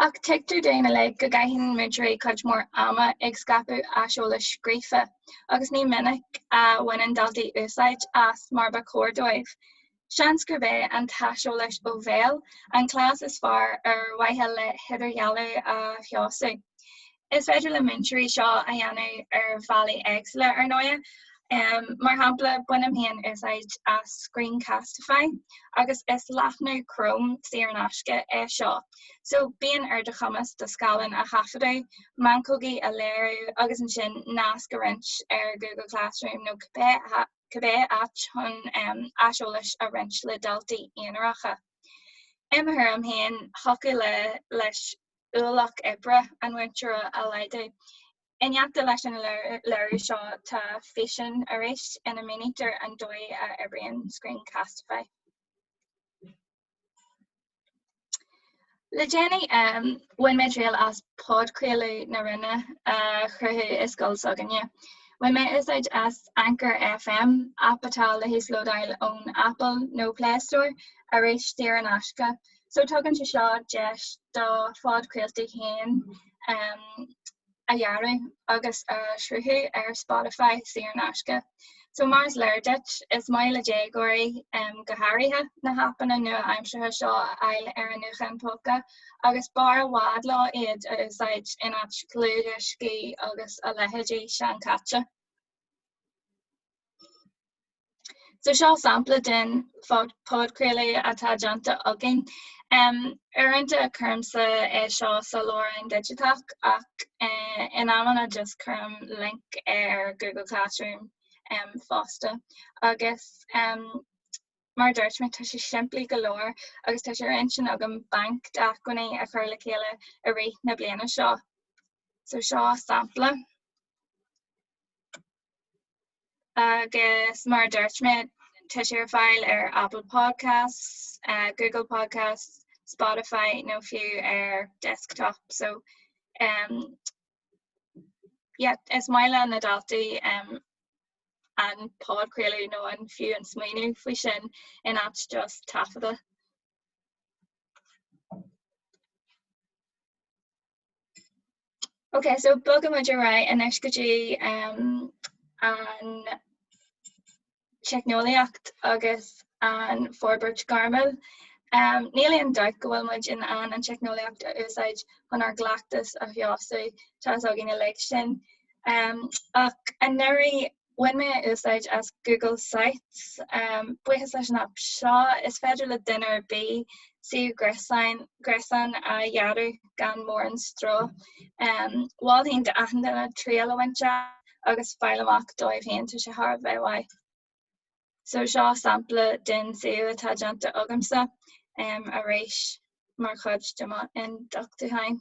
Ach tuigtear dúinn uilig go gcaitheann múinteoirí cuid mhór ama ag scaipeadh aiseolais scríofa, agus ní minic a bhaineann daltaí úsáid as mar ba chóir dóibh. Seans gurb é an t-aiseolas ó bhéal an cleas is fearr ar mhaithe le hidirdhealú a fheabhsú. Is féidir le múinteoirí seo a dhéanamh ar bhealaí éagsúla, ar ndóigh. Mar shampla, bainim féin úsáid as Screencastify agus is leathnú Chrome saor in aisce é seo so bíonn ar do chumas do scáileán a thaifeadadh, meancógaí a léiriú agus ansin nasc a roinnt ar Google Classroom nó cibé áit. cibé áit chun aiseolas a roinnt le daltaí aonaracha. I mo thuairim féin, thiocfadh leis ualach oibre an mhúinteora a laghdú. In éineacht leis an léiriú seo tá físeán arís ina mínítear an dóigh a oibríonn Screencastify. Le déanaí bhain mé triail as podchraoladh na Roinne a chruthú i scoil s'againne. Bhain mé úsáid as Anchor FM, aip atá le híoslódáil ón Apple nó Play Store, arís saor in aisce, so tugann sé seo deis do phodchraoltaí féin a dhearadh agus a shruthú ar Spotify saor in aisce. So mar is léir daoibh, is maith le déagóirí, go háirithe, na haipeanna nua-aimseartha seo a fháil ar a ngutháin póca agus b'fhearr i bhfad leo iad a úsáid in áit dlúthdhioscaí agus a leithéidí seanchaite. So seo sampla den podchraoladh atá déanta againn. Um, uaireanta cuirimsa é eh, seo sa lárionn digiteach ach eh, in amanna just cuirim link ar Google Classroom um, fosta. Agus um, Mar a dúirt mé, tá sé simplí go leor agus tá sé ar intinn agam banc d'acmhainní a chur le chéile i rith na bliana seo. So seo sampla. Agus mar a dúirt mé, tá sé ar fáil ar Apple Podcasts, uh, Google Podcasts, Spotify nó fiú ar desktop. So um, yeah, is maith le na daltaí um, an podchraoladh nó an fiú an smaoineamh faoi sin in áit just taifeadadh. Ok so bogadh muid ar aghaidh anois go dtí um, an teicneolaíocht agus an forbairt gairmiúil. Um, níl aon doubt go bhfuil muid in ann an teicneolaíocht a úsáid chun ár gcleachtas a threisiú, tá a fhios againn uilig sin. Ach anuraidh bhain mé úsáid as Google Sites. Buíochas leis an aip seo, is féidir le duine ar bith suíomh gréasáin a dhearadh gan mórán stró. Mholfainn d'achan duine triail a bhaint as agus fáil amach dóibh féin, tá sé thar a bheith maith. So seo sampla den suíomh atá déanta agamsa arís mar chuid de mo ionduchtúcháin.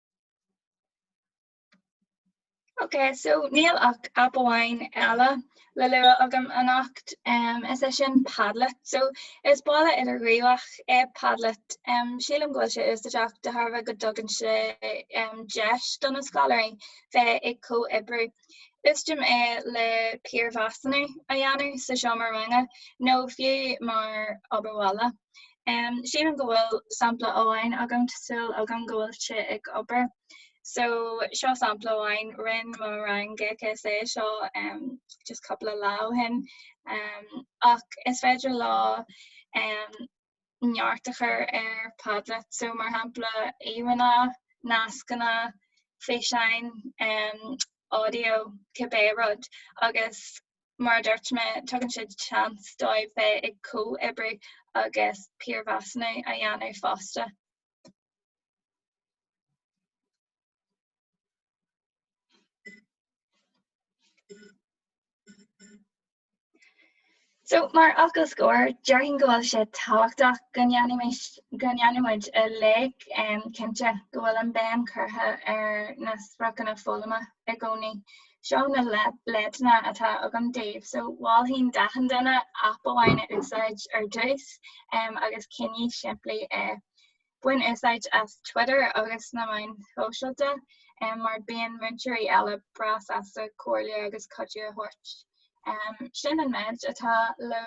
Ok so níl ach aip amháin eile le lua agam anocht um is é sin Padlet. So is balla idirghníomhach é Padlet. Um sílim go bhfuil sé úsáideach de thairbhe go dtugann sé um deis do na scoláirí bheith ag comhoibriú Úsáidim é le piarmheasúnú a dhéanamh sa seomra ranga nó fiú mar obair bhaile. Sílim go bhfuil sampla amháin agam, tá súil agam go bhfuil sé ag obair. So, seo sampla amháin, rinne mo rang GCSE é seo just cúpla lá ó shin. Ach is féidir leo. neart a chur ar Padlet, so mar shampla íomhanna, nascanna, físeáin, audio, cibé rud agus mar a dúirt mé tugann sé seans dóibh bheith ag comhoibriú agus piarmheasúnú a dhéanamh fosta. So, mar fhocal scór, déarfainn go bhfuil sé tábhachtach go ndéanfaimis, go ndéanfaimid uilig cinnte go bhfuil an bhéim curtha ar na spriocanna foghlama i gcónaí. Seo na leideanna atá agam daoibh. So, mholfainn d'achan duine aip amháin a úsáid ar dtús agus coinnigh simplí é. Bain úsáid as Twitter agus na meáin shóisialta mar bíonn múinteoirí eile breá sásta comhairle agus cuidiú a thabhairt. Sin an méid atá le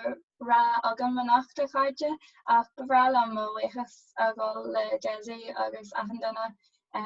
rá agam anocht a chairde ach ba bhreá liom mo bhuíochas a ghabháil le Desi agus achan duine a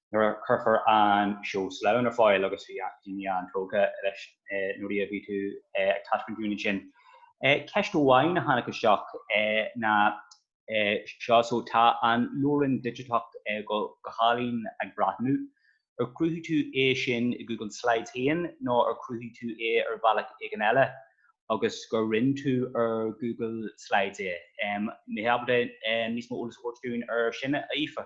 nuair a chuirfear an seó sleamhnán ar fáil agus bhí daoine an-tógtha leis nuair a bhí tú ag taispeáint dúinn ansin. Ceist amháin a tháinig isteach ná seo so tá an leabharlann digiteach go hálainn ag breathnú, ar chruthaigh tú é sin i Google Slides féin nó ar chruthaigh tú é ar bhealach éigin eile agus gur roinn tú ar Google Slides é? An mbeifeá ábalta níos mó eolais a thabhairt dúinn ar sin a Aoife?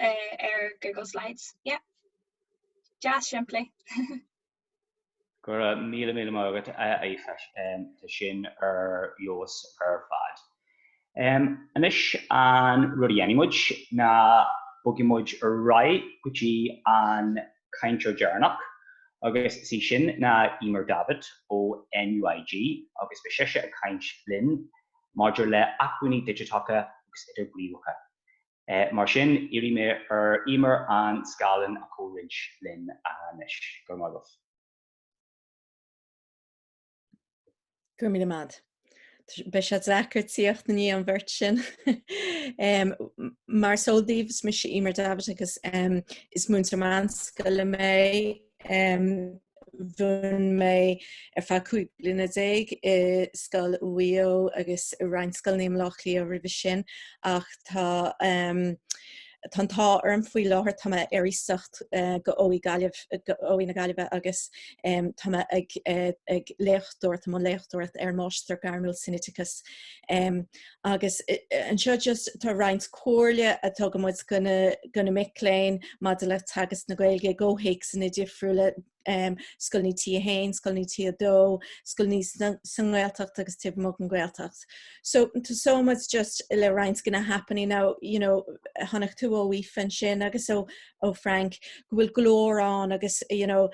ar Google Slides. Yeah. Deas simplí. Go raibh míle míle maith agat a Aoife um, Tá sin ar fheabhas ar fad. Um, anois an rud a dhéanfaidh muid ná bogfaidh muid ar aghaidh go dtí an cainteoir deireanach agus is í sin ná Emer Davitt ó NUIG agus beidh sise ag caint linn maidir le acmhainní digiteacha agus idirghníomhacha. Mar sin, iarrfaidh mé ar Emer an scáileán a chomhroinnt linn anois. Go raibh maith agat. Go raibh míle maith. Beidh sé deacair tíocht i ndiaidh an bheirt sin. Mar is eol daoibh, is mise Emer Davitt agus is múinteoir meánscoile mé. Mhúin mé ar feadh cúig bliana déag i scoil i Maigh Eo agus i roinnt scoileanna i mBleá Cliath roimhe sin ach tá an t-ádh orm faoi láthair, tá mé ar iasacht go OÉ Gaillimh, go OÉ na Gaillimhe agus tá mé ag léachtóireacht, i mbun léachtóireacht ar Máistir Gairmiúil san Oideachas. agus anseo just tá roinnt comhairle a tugann muid go na, go na mic léinn maidir le teagasc na Gaeilge i gcomhthéacsanna difriúla um, scoileanna T a haon, scoileanna T a dó, scoileanna sa nGaeltacht agus taobh amuigh den Ghaeltacht. So tá súil agam just le roinnt go na haipeanna, you know, chonaic tú ó Aoife ansin agus ó ó Frank go bhfuil go leor ann agus you know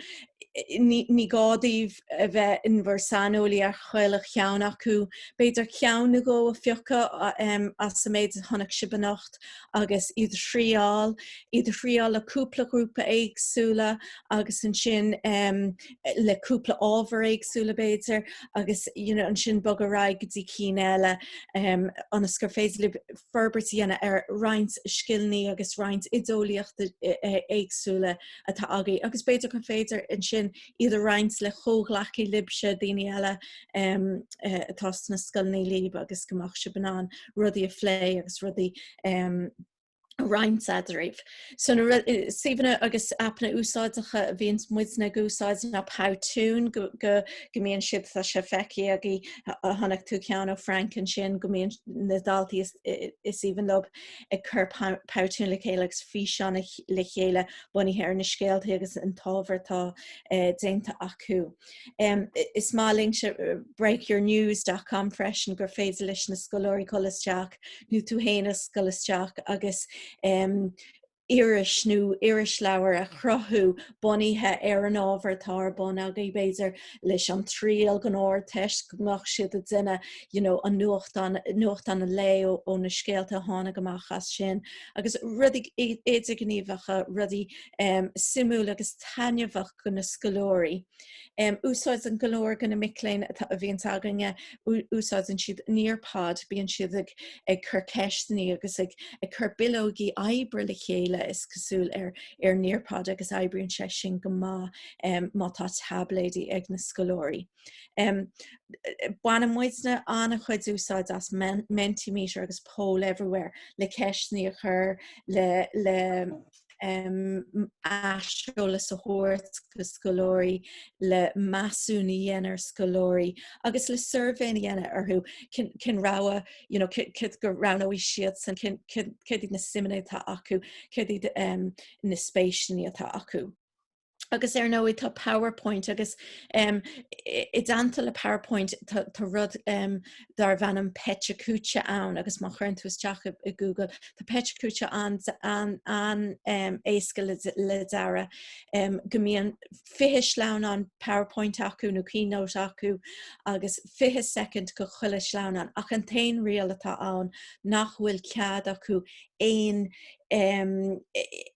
ní gá daoibh a bheith in bhur saineolaí ar chuile cheann acu. B'fhéidir ceann nó dhó a phiocadh um as an méid a chonaic sibh anocht agus iad a thriáil, iad a thriáil le cúpla ghrúpa éagsúla agus ansin um le cúpla ábhar éagsúla b'fhéidir agus you know ansin bogadh ar aghaidh go dtí cinn eile ionas gur féidir libh forbairt a dhéanamh ar roinnt scileanna agus roinnt oideolaíochta éagsúla atá agaibh agus b'fhéidir gur féidir ansin iad a roinnt le comhghleacaí libse, daoine eile atá sna scoileannaí lib agus go mbeadh sibh in ann rudaí a phlé agus rudaí a roinnt eadraibh. So na suíomhanna agus aipeanna úsáideacha a bhíonns muidne ag úsáid ná Powtoon go, go, go mbíonn siad tá sé feicthe agaibh chonaic tú ceann ó Frank ansin go mbíonn na daltaí is, is aoibhinn leob ag cur Powtoon le chéile agus físeáin le chéile bunaithe ar na scéaltaí agus an t-ábhar atá déanta acu. Is maith linn seo breakyournews.com freisin gur féidir leis na scoláirí dhul isteach nó tú féin ag dul isteach agus iris nó irisleabhar a chruthú bunaithe ar an ábhar atá ar bun agaibh, b'fhéidir leis an triail go nó ár dtoisc go mbeadh siad ag déanamh you know an nuachtán, nuachtán an lae ó na scéalta a tháinig amach as sin agus rudaí idirghníomhacha, rudaí suimiúla agus taitneamhacha. do na scoláirí. Úsáideann go leor de na mic léinn a bhíonns againne, úsáideann siad Nearpod, bíonn siad ag ag cur ceisteannaí agus ag ag cur bileogaí oibre le chéile is cosúil ar ar Nearpod agus oibríonn sé sin go maith má tá taibléidí ag na scoláirí. Baineann muidne an-chuid úsáid as Mentimeter agus Poll Everywhere le ceisteannaí a chur le le. aiseolas a thabhairt do scoláirí, le measúnú a dhéanamh ar scoláirí agus le suirbhéanna a dhéanamh orthu, cén rogha, you know, céard a roghnódh siadsan, céard iad na suimeanna atá acu, céard iad na spéiseanna atá acu. agus ar ndóigh tá powerpoint agus um, i dteannta le powerpoint tá rud um, darbh ainm PechaKucha ann agus má chuireann tú isteach i, Google tá PechaKucha an, an, an um, éasca le, le déanamh um, go mbíonn 20 sleamhnán powerpoint acu nó keynote acu agus 20 second do chuile sleamhnán ach an t-aon riail atá ann nach bhfuil cead acu aon um,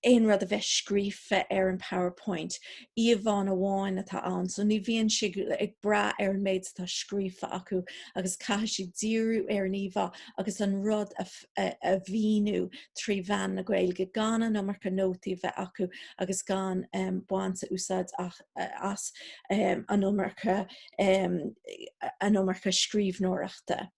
aon rud a bheith scríofa ar an PowerPoint, íomhánna amháin atá ann, so ní bhíonn siad ag brath ar an méid atá scríofa acu agus caithfidh siad díriú ar an íomhá agus an rud a, a, a mhíniú trí mheán na Gaeilge gan an iomarca nótaí a bheith acu agus gan um, baint úsáid as, as um, an iomarca um, an iomarca scríbhneoireachta.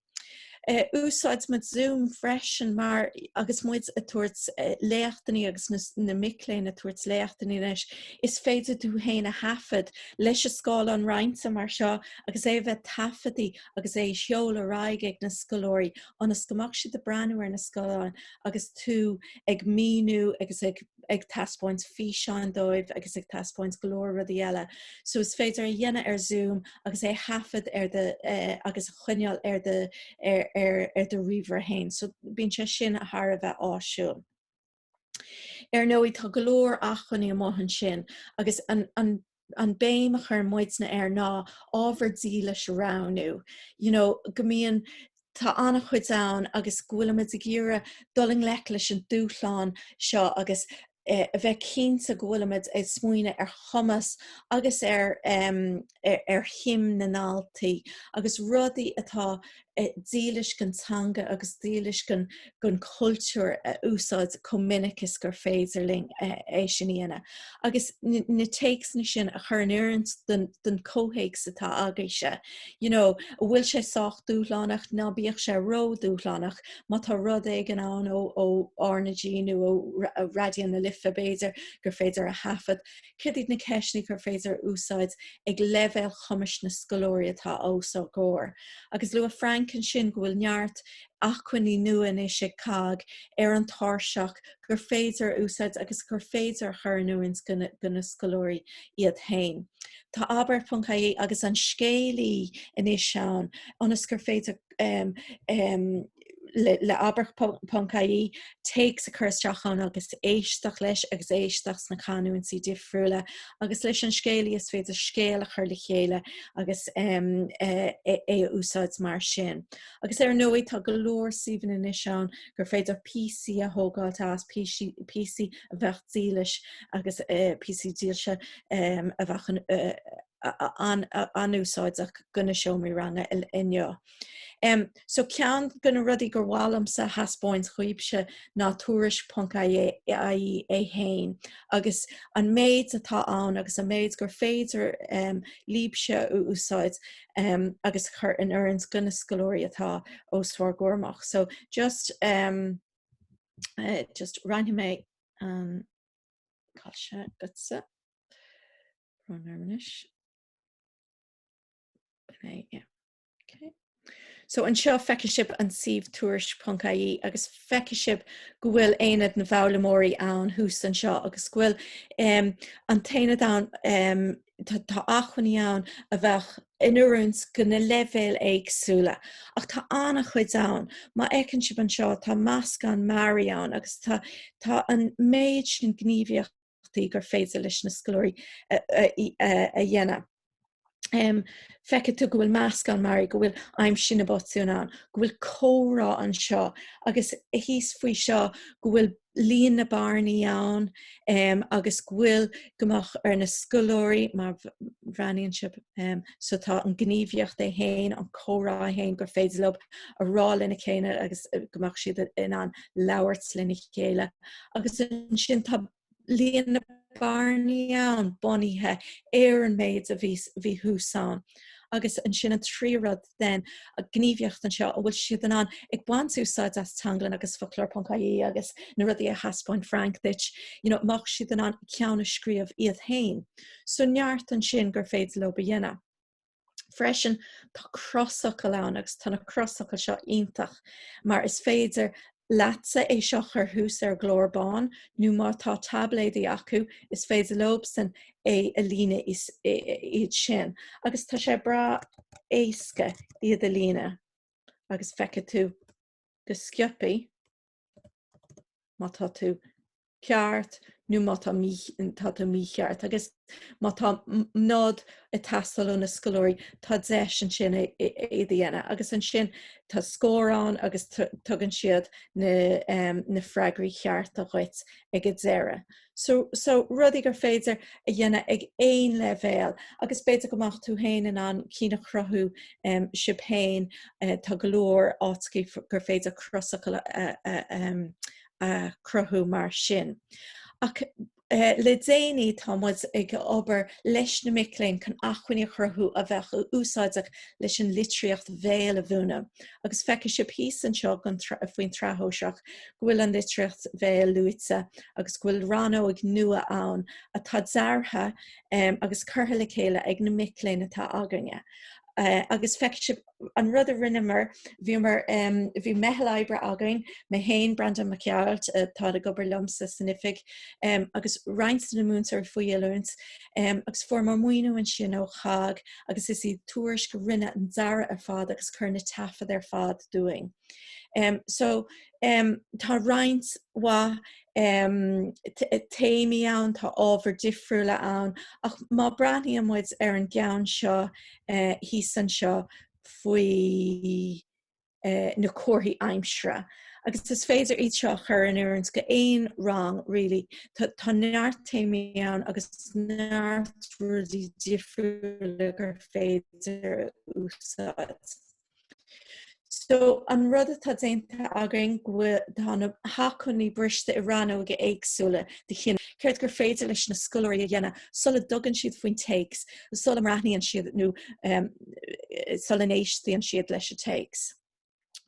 Úsáideann muid Zoom freisin mar agus muid ag tabhairt léachtainí agus na mic léinn ag tabhairt léachtainí leis, is féidir tú féin a thaifead leis an scáileán roinnte mar seo agus é a bheith taifeadta agus é a sheoladh ar aghaidh ag na scoláirí ionas go mbeadh siad ag breathnú ar an scáileán agus tú ag míniú agus ag ag taispeáint físeáin dóibh agus ag taispeáint go leor rudaí eile so is féidir é a dhéanamh ar zoom agus é a thaifead ar do eh, agus é a choinneáil ar do ar, ar, ar do ríomhaire féin so bíonn sé sin thar a bheith áisiúil. Ar ndóigh tá go leor acmhainní amuigh ansin agus an, an, an bhéim a chuir muide air ná ábhar dílis a roghnú you know go mbíonn tá an-chuid ann agus go bhfuilimid ag iarraidh dul i ngleic leis an dúshlán seo agus eh a bheith cinnte go bhfuilimid ag smaoineamh ar chumas agus ar em ar shuim na ndaltaí agus rudaí atá dílis don teanga agus dílis don chultúr a úsáid chomh minic is gur féidir linn é sin a dhéanamh agus na téacsanna sin a chur in oiriúint don chomhthéacs atá agaibhse. You know, an bhfuil sé sách dúshlánach? Ná bíodh sé ródhúshlánach. Má tá rud éigin ann ó RnaG nó ó Raidió na Life, b'fhéidir gur féidir é a thaifead, Céard iad na ceisteanna gur féidir a úsáid ag leibhéal chumais na scoláirí atá os ár gcomhair? Agus luaigh Frank ansin go bhfuil neart acmhainní nua anois ag COGG ar an tairseach gur féidir a úsáid agus gur féidir a chur in oiriúint do na scoláirí iad féin. Tá abairt.ie agus an scéalaí anois ann ionas gur féidir le abair.ie, téacs a chur isteach ann agus éisteacht leis agus éisteacht sna canúintí difriúla agus leis an scéalaí is féidir scéal a chur le chéile agus é a úsáid mar sin. Agus ar ndóigh tá go leor suíomhanna anois ann gur féidir píosaí a thógáilt as, píosaí a bheadh dílis agus píosaí dílse a bheadh an-úsáideach go na seomraí ranga inniu. So ceann go na rudaí gur mhaith liomsa a thaispeáint dhaoibhse ná tuairisc ponc ie é fhéin agus an méid atá ann agus an méid gur féidir libhse a úsáid agus a chur in oiriúint go na scoláirí atá os bhur gcomhair amach. So just just roinnfidh mé an scáileán seo agatsa. So anseo feicfidh sibh an suíomh tuairisc.ie agus feicfidh sibh go bhfuil Aonad na bhFoghlaimeoirí ann thuas anseo agus go bhfuil um an tAonad ann um tá tá achmhainní ann a bheadh in oiriúint dho na leibhéil éagsúla ach tá an-chuid ann. Má fheiceann sibh anseo tá meascán mearaí ann agus tá tá an méid sin gníomhaíochta gur féidir leis na scoláirí a dhéanamh. Feicfidh tú go bhfuil meascán mearaí, go bhfuil aimsigh na botúin ann, go bhfuil comhrá anseo agus thíos faoi seo, go bhfuil líon na bearnaí ann agus go bhfuil go mbeadh ar na scoláirí má bhreathnaíonn sibh so tá an ghníomhaíocht é féin, an comhrá é féin gur féidir leob a rá lena chéile agus go mbeadh siad in ann labhairt lena chéile agus ansin tá líon na bearnaí ann bunaithe ar an méid a bhí thuas ann. Agus ansin an tríú rud den ghníomhaíocht anseo a bhfuil siad in ann ag baint úsáid as Teanglann agus Foclóir.ie agus na rudaí a thaispeáin Frank duit, you know, mbeadh siad in ann ceann a scríobh iad féin. So neart ansin gur féidir leob a dhéanamh. Freisin tá crosfhocal ann agus tá na crosfhocail seo iontach mar is féidir leatsa é seo a chur thuas ar gclár bán nó má tá taibléadaí acu is féidir leobsan é a líonadh iad sin agus tá sé breá éasca iad a líonadh agus feicfidh tú go scioptha má tá tú ceart nó má tá tú mícheart agus má tá nod ag teastáil ó na scoláirí tá deis ansin é a dhéanamh agus ansin tá scór ann agus tugann siad na freagraí chearta dhuit ag an deireadh. so so rudaí gur féidir a dhéanamh ag aon leibhéal agus b'fhéidir go mbeadh tú féin in ann cinn a chruthú em sibh féin eh tá go leor áiteachaí gur féidir crosfhocal a a a em a chruthú mar sin ach eh le déanaí tá muid ag obair leis na mic léinn chun acmhainní a chruthú a bheadh úsáideach leis an litríocht bhéil a mhúineadh agus feicfidh sibh thíos anseo faoin tSraith Shóisearach go bhfuil an litríocht Bhéil luaite agus go bhfuil rannóg nua ann atá deartha agus curtha le chéile ag na mic léinn atá againne agus feicfidh sibh an rud a rinneamar, bhíomar, bhí meitheal oibre againn, mé féin, Breandán Mac Craith, atá ag obair liomsa san oifig, agus roinnt de na múinteoirí faoi oiliúint agus fuaireamar maoiniú ansin ó COGG, agus is í Tuairisc a rinne an dearadh ar fad agus chuir na taifead ar fad dúinn. Um, so um, tá roinnt mhaith um, téamaí ann, tá ábhar difriúla ann, ach má breathnaíonn muid ar an gceann seo uh, eh, thíos anseo faoi na comharthaí aimsire agus is féidir iad seo a chur in oiriúint go haon rang really. Tá neart téamaí ann agus neart rudaí difriúla gur féidir a úsáid. So an rud atá déanta againn go bhfuil tá na hacmhainní briste i rannóga éagsúla de chineál. Céard gur féidir leis na scoláirí a dhéanamh sula dtugann siad faoin téacs? sula mbreathnaíonn siad nó sula n-éisteann siad leis an téacs.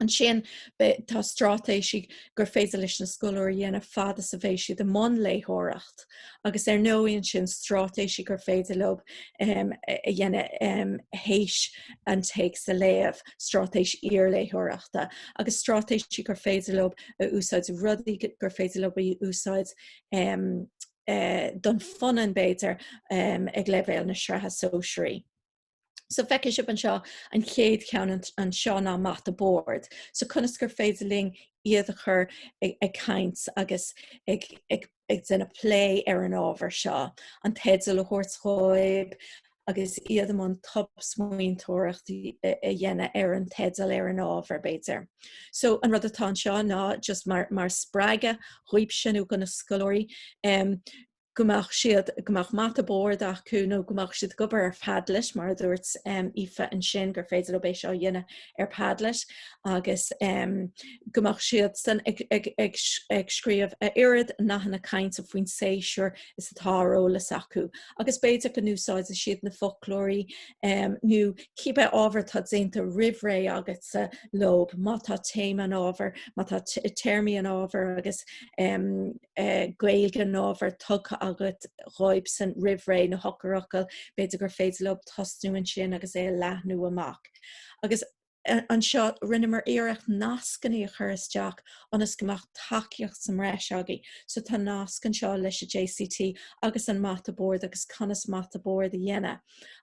Ansin tá stráitéisí gur féidir leis na scoláirí dhéanamh fad is a bheidh siad i mbun léitheoireacht agus ar ndóigh ansin stráitéisí gur féidir leo a dhéanamh théis an téacs a léamh, stráitéis iarléitheoireachta, agus stráitéisí gur féidir leo a úsáid, rudaí gur féidir leo a úsáid don phunann b'fhéidir ag leibhéal na sraithe sóisearaí. So feicfidh sibh anseo an chéad cheann anseo ná mata boird. So conas gur féidir linn iad a chur ag caint agus ag déanamh plé ar an ábhar seo. An teideal a thabhairt dhóibh, agus iad i mbun tobsmaointeoireacht a dhéanamh ar an teideal, ar an ábhar, b'fhéidir. So, an rud atá anseo ná just mar, mar spreagadh dhaoibhse nó do na scoláirí em go mbeadh siad, go mbeadh mata bord acu nó go mbeadh siad ag obair ar Padlet, mar a dúirt em Aoife ansin gur féidir leo é seo a dhéanamh ar Padlet agus em go mbeadh siad san ag, ag, ag, ag scríobh a oiread nathanna cainte faoin séasúr is atá ar eolas acu agus b'fhéidir go n-úsáidfidh siad na foclóirí nó cíbe ábhar atá déanta roimh ré agatsa leob, má tá téama an ábhair, má tá téarmaí an ábhair agus Gaeilge an ábhair tugtha agat dhóibsan roimh ré, na heochairfhocail, b'fhéidir gur féidir leob tosnú ansin agus é a leathnú amach. Agus. Anseo, rinneamar iarracht nascannaí a chur isteach ionas go mbeadh tacaíocht sa mbreis agaibh. So tá nasc anseo leis an JCT agus an mata boird agus conas mata boird a dhéanamh.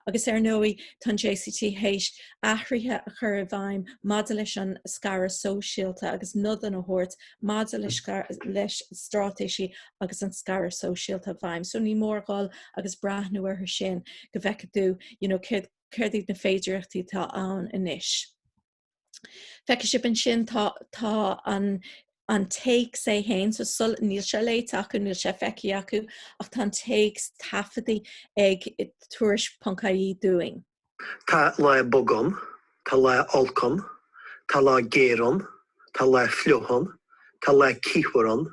Agus ar ndóigh, tá an JCT théis athruithe a chur i bhfeidhm maidir leis an scaradh sóisialta agus nodanna a thabhairt maidir leis leis stráitéisí agus an scaradh sóisialta i bhfeidhm. So ní mór gabháil agus breathnú orthu sin go bhfeicfidh tú you know céard céard iad na féidearthachtaí atá ann anois. Feicfidh sibh ansin tá, tá an, an téacs é fhéin, so sul, níl sé léite acu, níl sé feicthe acu, ach tá an téacs taifeadta ag Tuairisc.ie dúinn. Tá lá bog ann, tá lá olc ann, tá lá géar ann, tá lá fliuch ann, tá lá ceathach ann,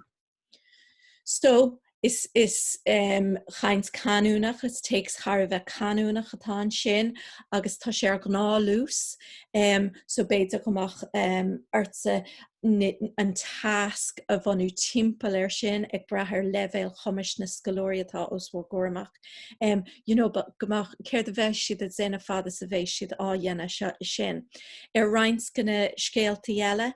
So, is is ehm chaint canúnach, is téacs thar a bheith canúnach atá ansin agus tá sé ar ghnáthluas ehm so b'fhéidir go mbeadh ehm ortsa an tasc a bhunú timpeall air sin ag brath ar leibhéal cumais na scoláirí atá os bhur gcomhair amach ehm you know but go mbeadh céard a bheadh siad a dhéanamh fad is a bheadh siad á dhéanamh so sin. Ar roinnt de na scéaltaí eile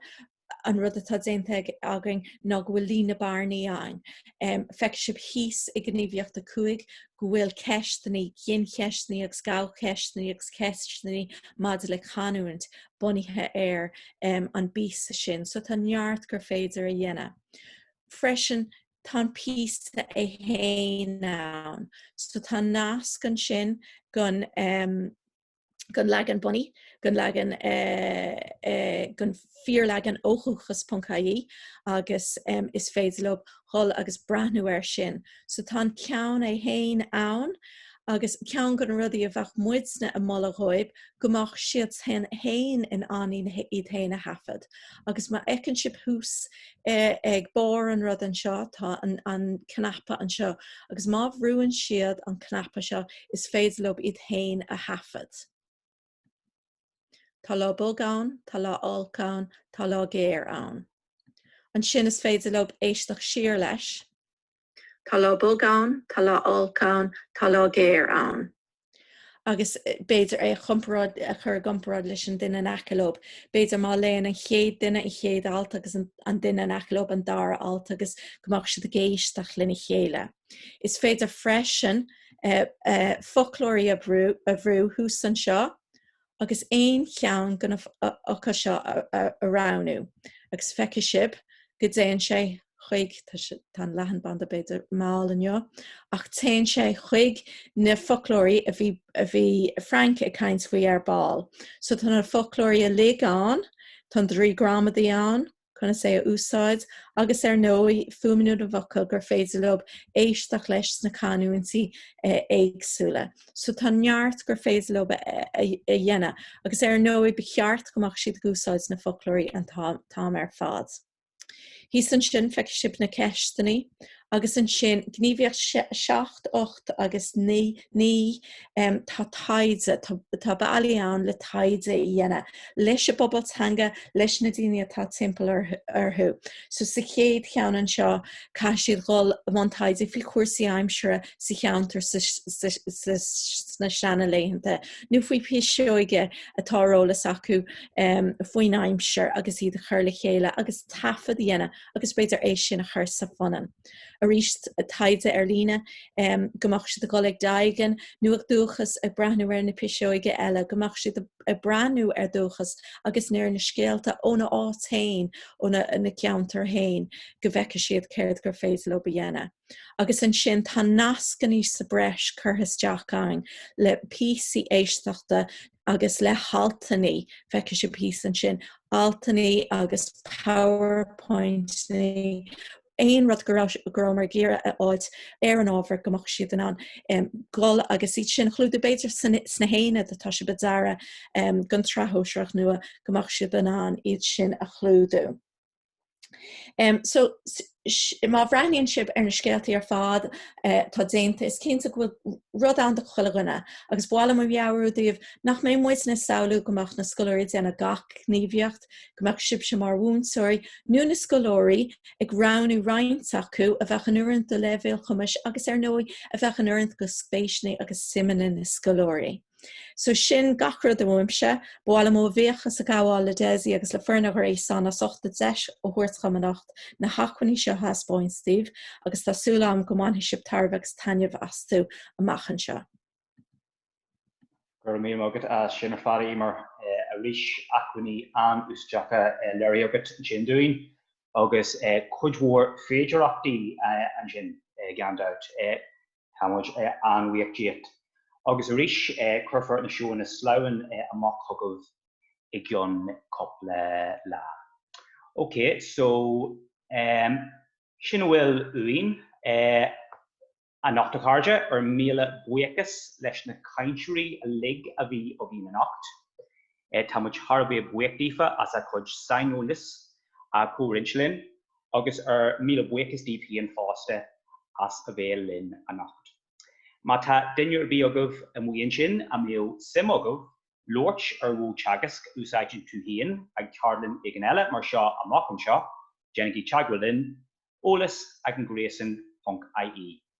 an rud atá déanta againn ná go bhfuil líon na bearnaí ann. Feicfidh sibh thíos i ngníomhaíocht 5 go bhfuil ceisteannaí, gincheisteannaí agus gnáthcheisteannaí agus ceisteannaí maidir le canúint bunaithe ar an bpíosa sin. So tá neart gur féidir a dhéanamh. Freisin, tá an píosa é féin ann. So tá nasc ansin gon. gon leagan bunaidh, gon leagan gon fíorleagan ó dhúchas.ie agus is féidir leob dhul agus breathnú air sin. So tá an ceann é fhéin ann agus ceann de na rudaí a bheadh muidne ag moladh dhóib go mbeadh siad fhéin in ann iad fhéin a thaifead agus má fheiceann sib thuas ag barr an rud anseo, tá an an cnaipe anseo agus má bhrúann siad an cnaipe seo is féidir leob iad féin a thaifead. Tá lá bog ann, tá lá olc ann, tá lá géar ann. Ansin is féidir leob éisteacht siar leis. Tá lá bog ann, tá lá olc ann, tá lá géar ann. Agus b'fhéidir é a chomparáid, a chur i gcomparáid leis an duine in aice leob. B'fhéidir má léann an chéad duine an chéad alt agus an duine in aice leob an dara alt agus go mbeadh siad ag éisteacht lena chéile. Is féidir freisin foclóirí a bhrú thuas anseo agus aon cheann de na focail seo a roghnú agus feicfidh sibh go dtéann sé chuig, tá an leathanbhanda b'fhéidir mall inniu, ach téann sé chuig na foclóirí a bhí a bhí Frank ag caint faoi ar ball. So tá na foclóirí uilig ann, tá an draoi gramadaí ann, conas é a úsáid agus ar ndóigh fuaimniú na bhfocal gur féidir leob éisteacht leis sna canúintí éagsúla. So tá neart gur féidir leob a dhéanamh agus ar ndóigh ba cheart go mbeadh siad ag úsáid na foclóirí an t-am ar fad. Thíos ansin feicfidh sibh na ceisteannaí Agus ansin gníomhaíocht 7, 8 agus 9, em, tá taighde, tá, tá bealaí ann le taighde a dhéanamh leis an bpobal teanga, leis na daoine atá timpeall ar, orthu. So sa chéad cheann anseo, caithfidh siad dul i mbun taighde faoi chúrsaí aimsire sa cheantar sa, sa, sa, sna seana laethanta, nó faoi piseoige atá ar eolas acu em, faoin aimsir agus iad a chur le chéile agus taifead a dhéanamh. agus b'fhéidir é sin a chur sa phunann. Arís taighde ar líne, go mbeadh siad ag dul ag Doegen nó ag Dúchas ag breathnú ar na piseoga eile, go mbeadh siad ag breathnú ar Dúchas agus ar na scéalta óna áit féin, óna gceantar féin, go bhfeicfidh siad céard gur féidir leo a dhéanamh. agus ansin tá nascannaí sa breis curtha isteach ann le píosaí éisteachta agus le haltannaí, feicfidh sibh píosa ansin, altannaí agus powerpointní, aon rud go raibh, go rabhamar ag iarraidh a fháilt ar an ábhar go mbeadh siad in ann dul agus iad sin a chlúdú, b'fhéidir sna haonaid atá sibh ag dearadh don tSraith Shóisearach nua go mbeadh sibh in ann iad sin a chlúdú. Um, so má bhreathnaíonn sibh ar na scéaltaí ar fad eh, atá déanta is cinnte go bhfuil rud ann do chuile dhuine agus ba mhaith liom a mheabhrú daoibh nach mbeidh muid ag samhlú go mbeadh na scoláirí ag déanamh gach gníomhaíocht go mbeadh sibse mar mhúinteoirí nó na scoláirí ag roghnú roinnt acu a bheadh in oiriúint do leibhéal cumais agus ar ndóigh a bheadh in oiriúint do spéiseannaí agus suimeanna na scoláirí. So sin gach rud uaimse. Ba mhaith liom mo bhuíochas a ghabháil le Desi agus le foireann An Ghréasáin as ucht an deis a thabhairt dhom anocht na hacmhainní seo a thaispeáint daoibh agus tá súil agam go mbainfidh sibh tairbhe agus taitneamh astu amach anseo. Go raibh míle maith agat as sin ar fad, Eimear. Arís, acmhainní an-úsáideacha léirithe agat ansin dúinn agus cuid mhór féidearthachtaí ansin gan dabht. Tá muid an-bhuíoch díot. Agus arís, cuirfear na seónna sleamhnán amach chugaibh i gceann cúpla lá. Ok, so, sin a bhfuil uainn. Anocht, a chairde, ár míle buíochas leis na cainteoirí uilig a bhí againn anocht. Tá muid thar a bheith buíoch d'Aoife as a cuid saineolais a chomhroinnt linn agus ár míle buíochas daoibh féin fosta as a bheith linn anocht. Má tá duine ar bith agaibh amuigh ansin a mbeadh suim agaibh labhairt ar mhodh teagaisc a úsáideann tú féin ag ceardlann éigin eile mar seo amach anseo, déanaigí teagmháil linn, eolas ag an gréasán ponc ie.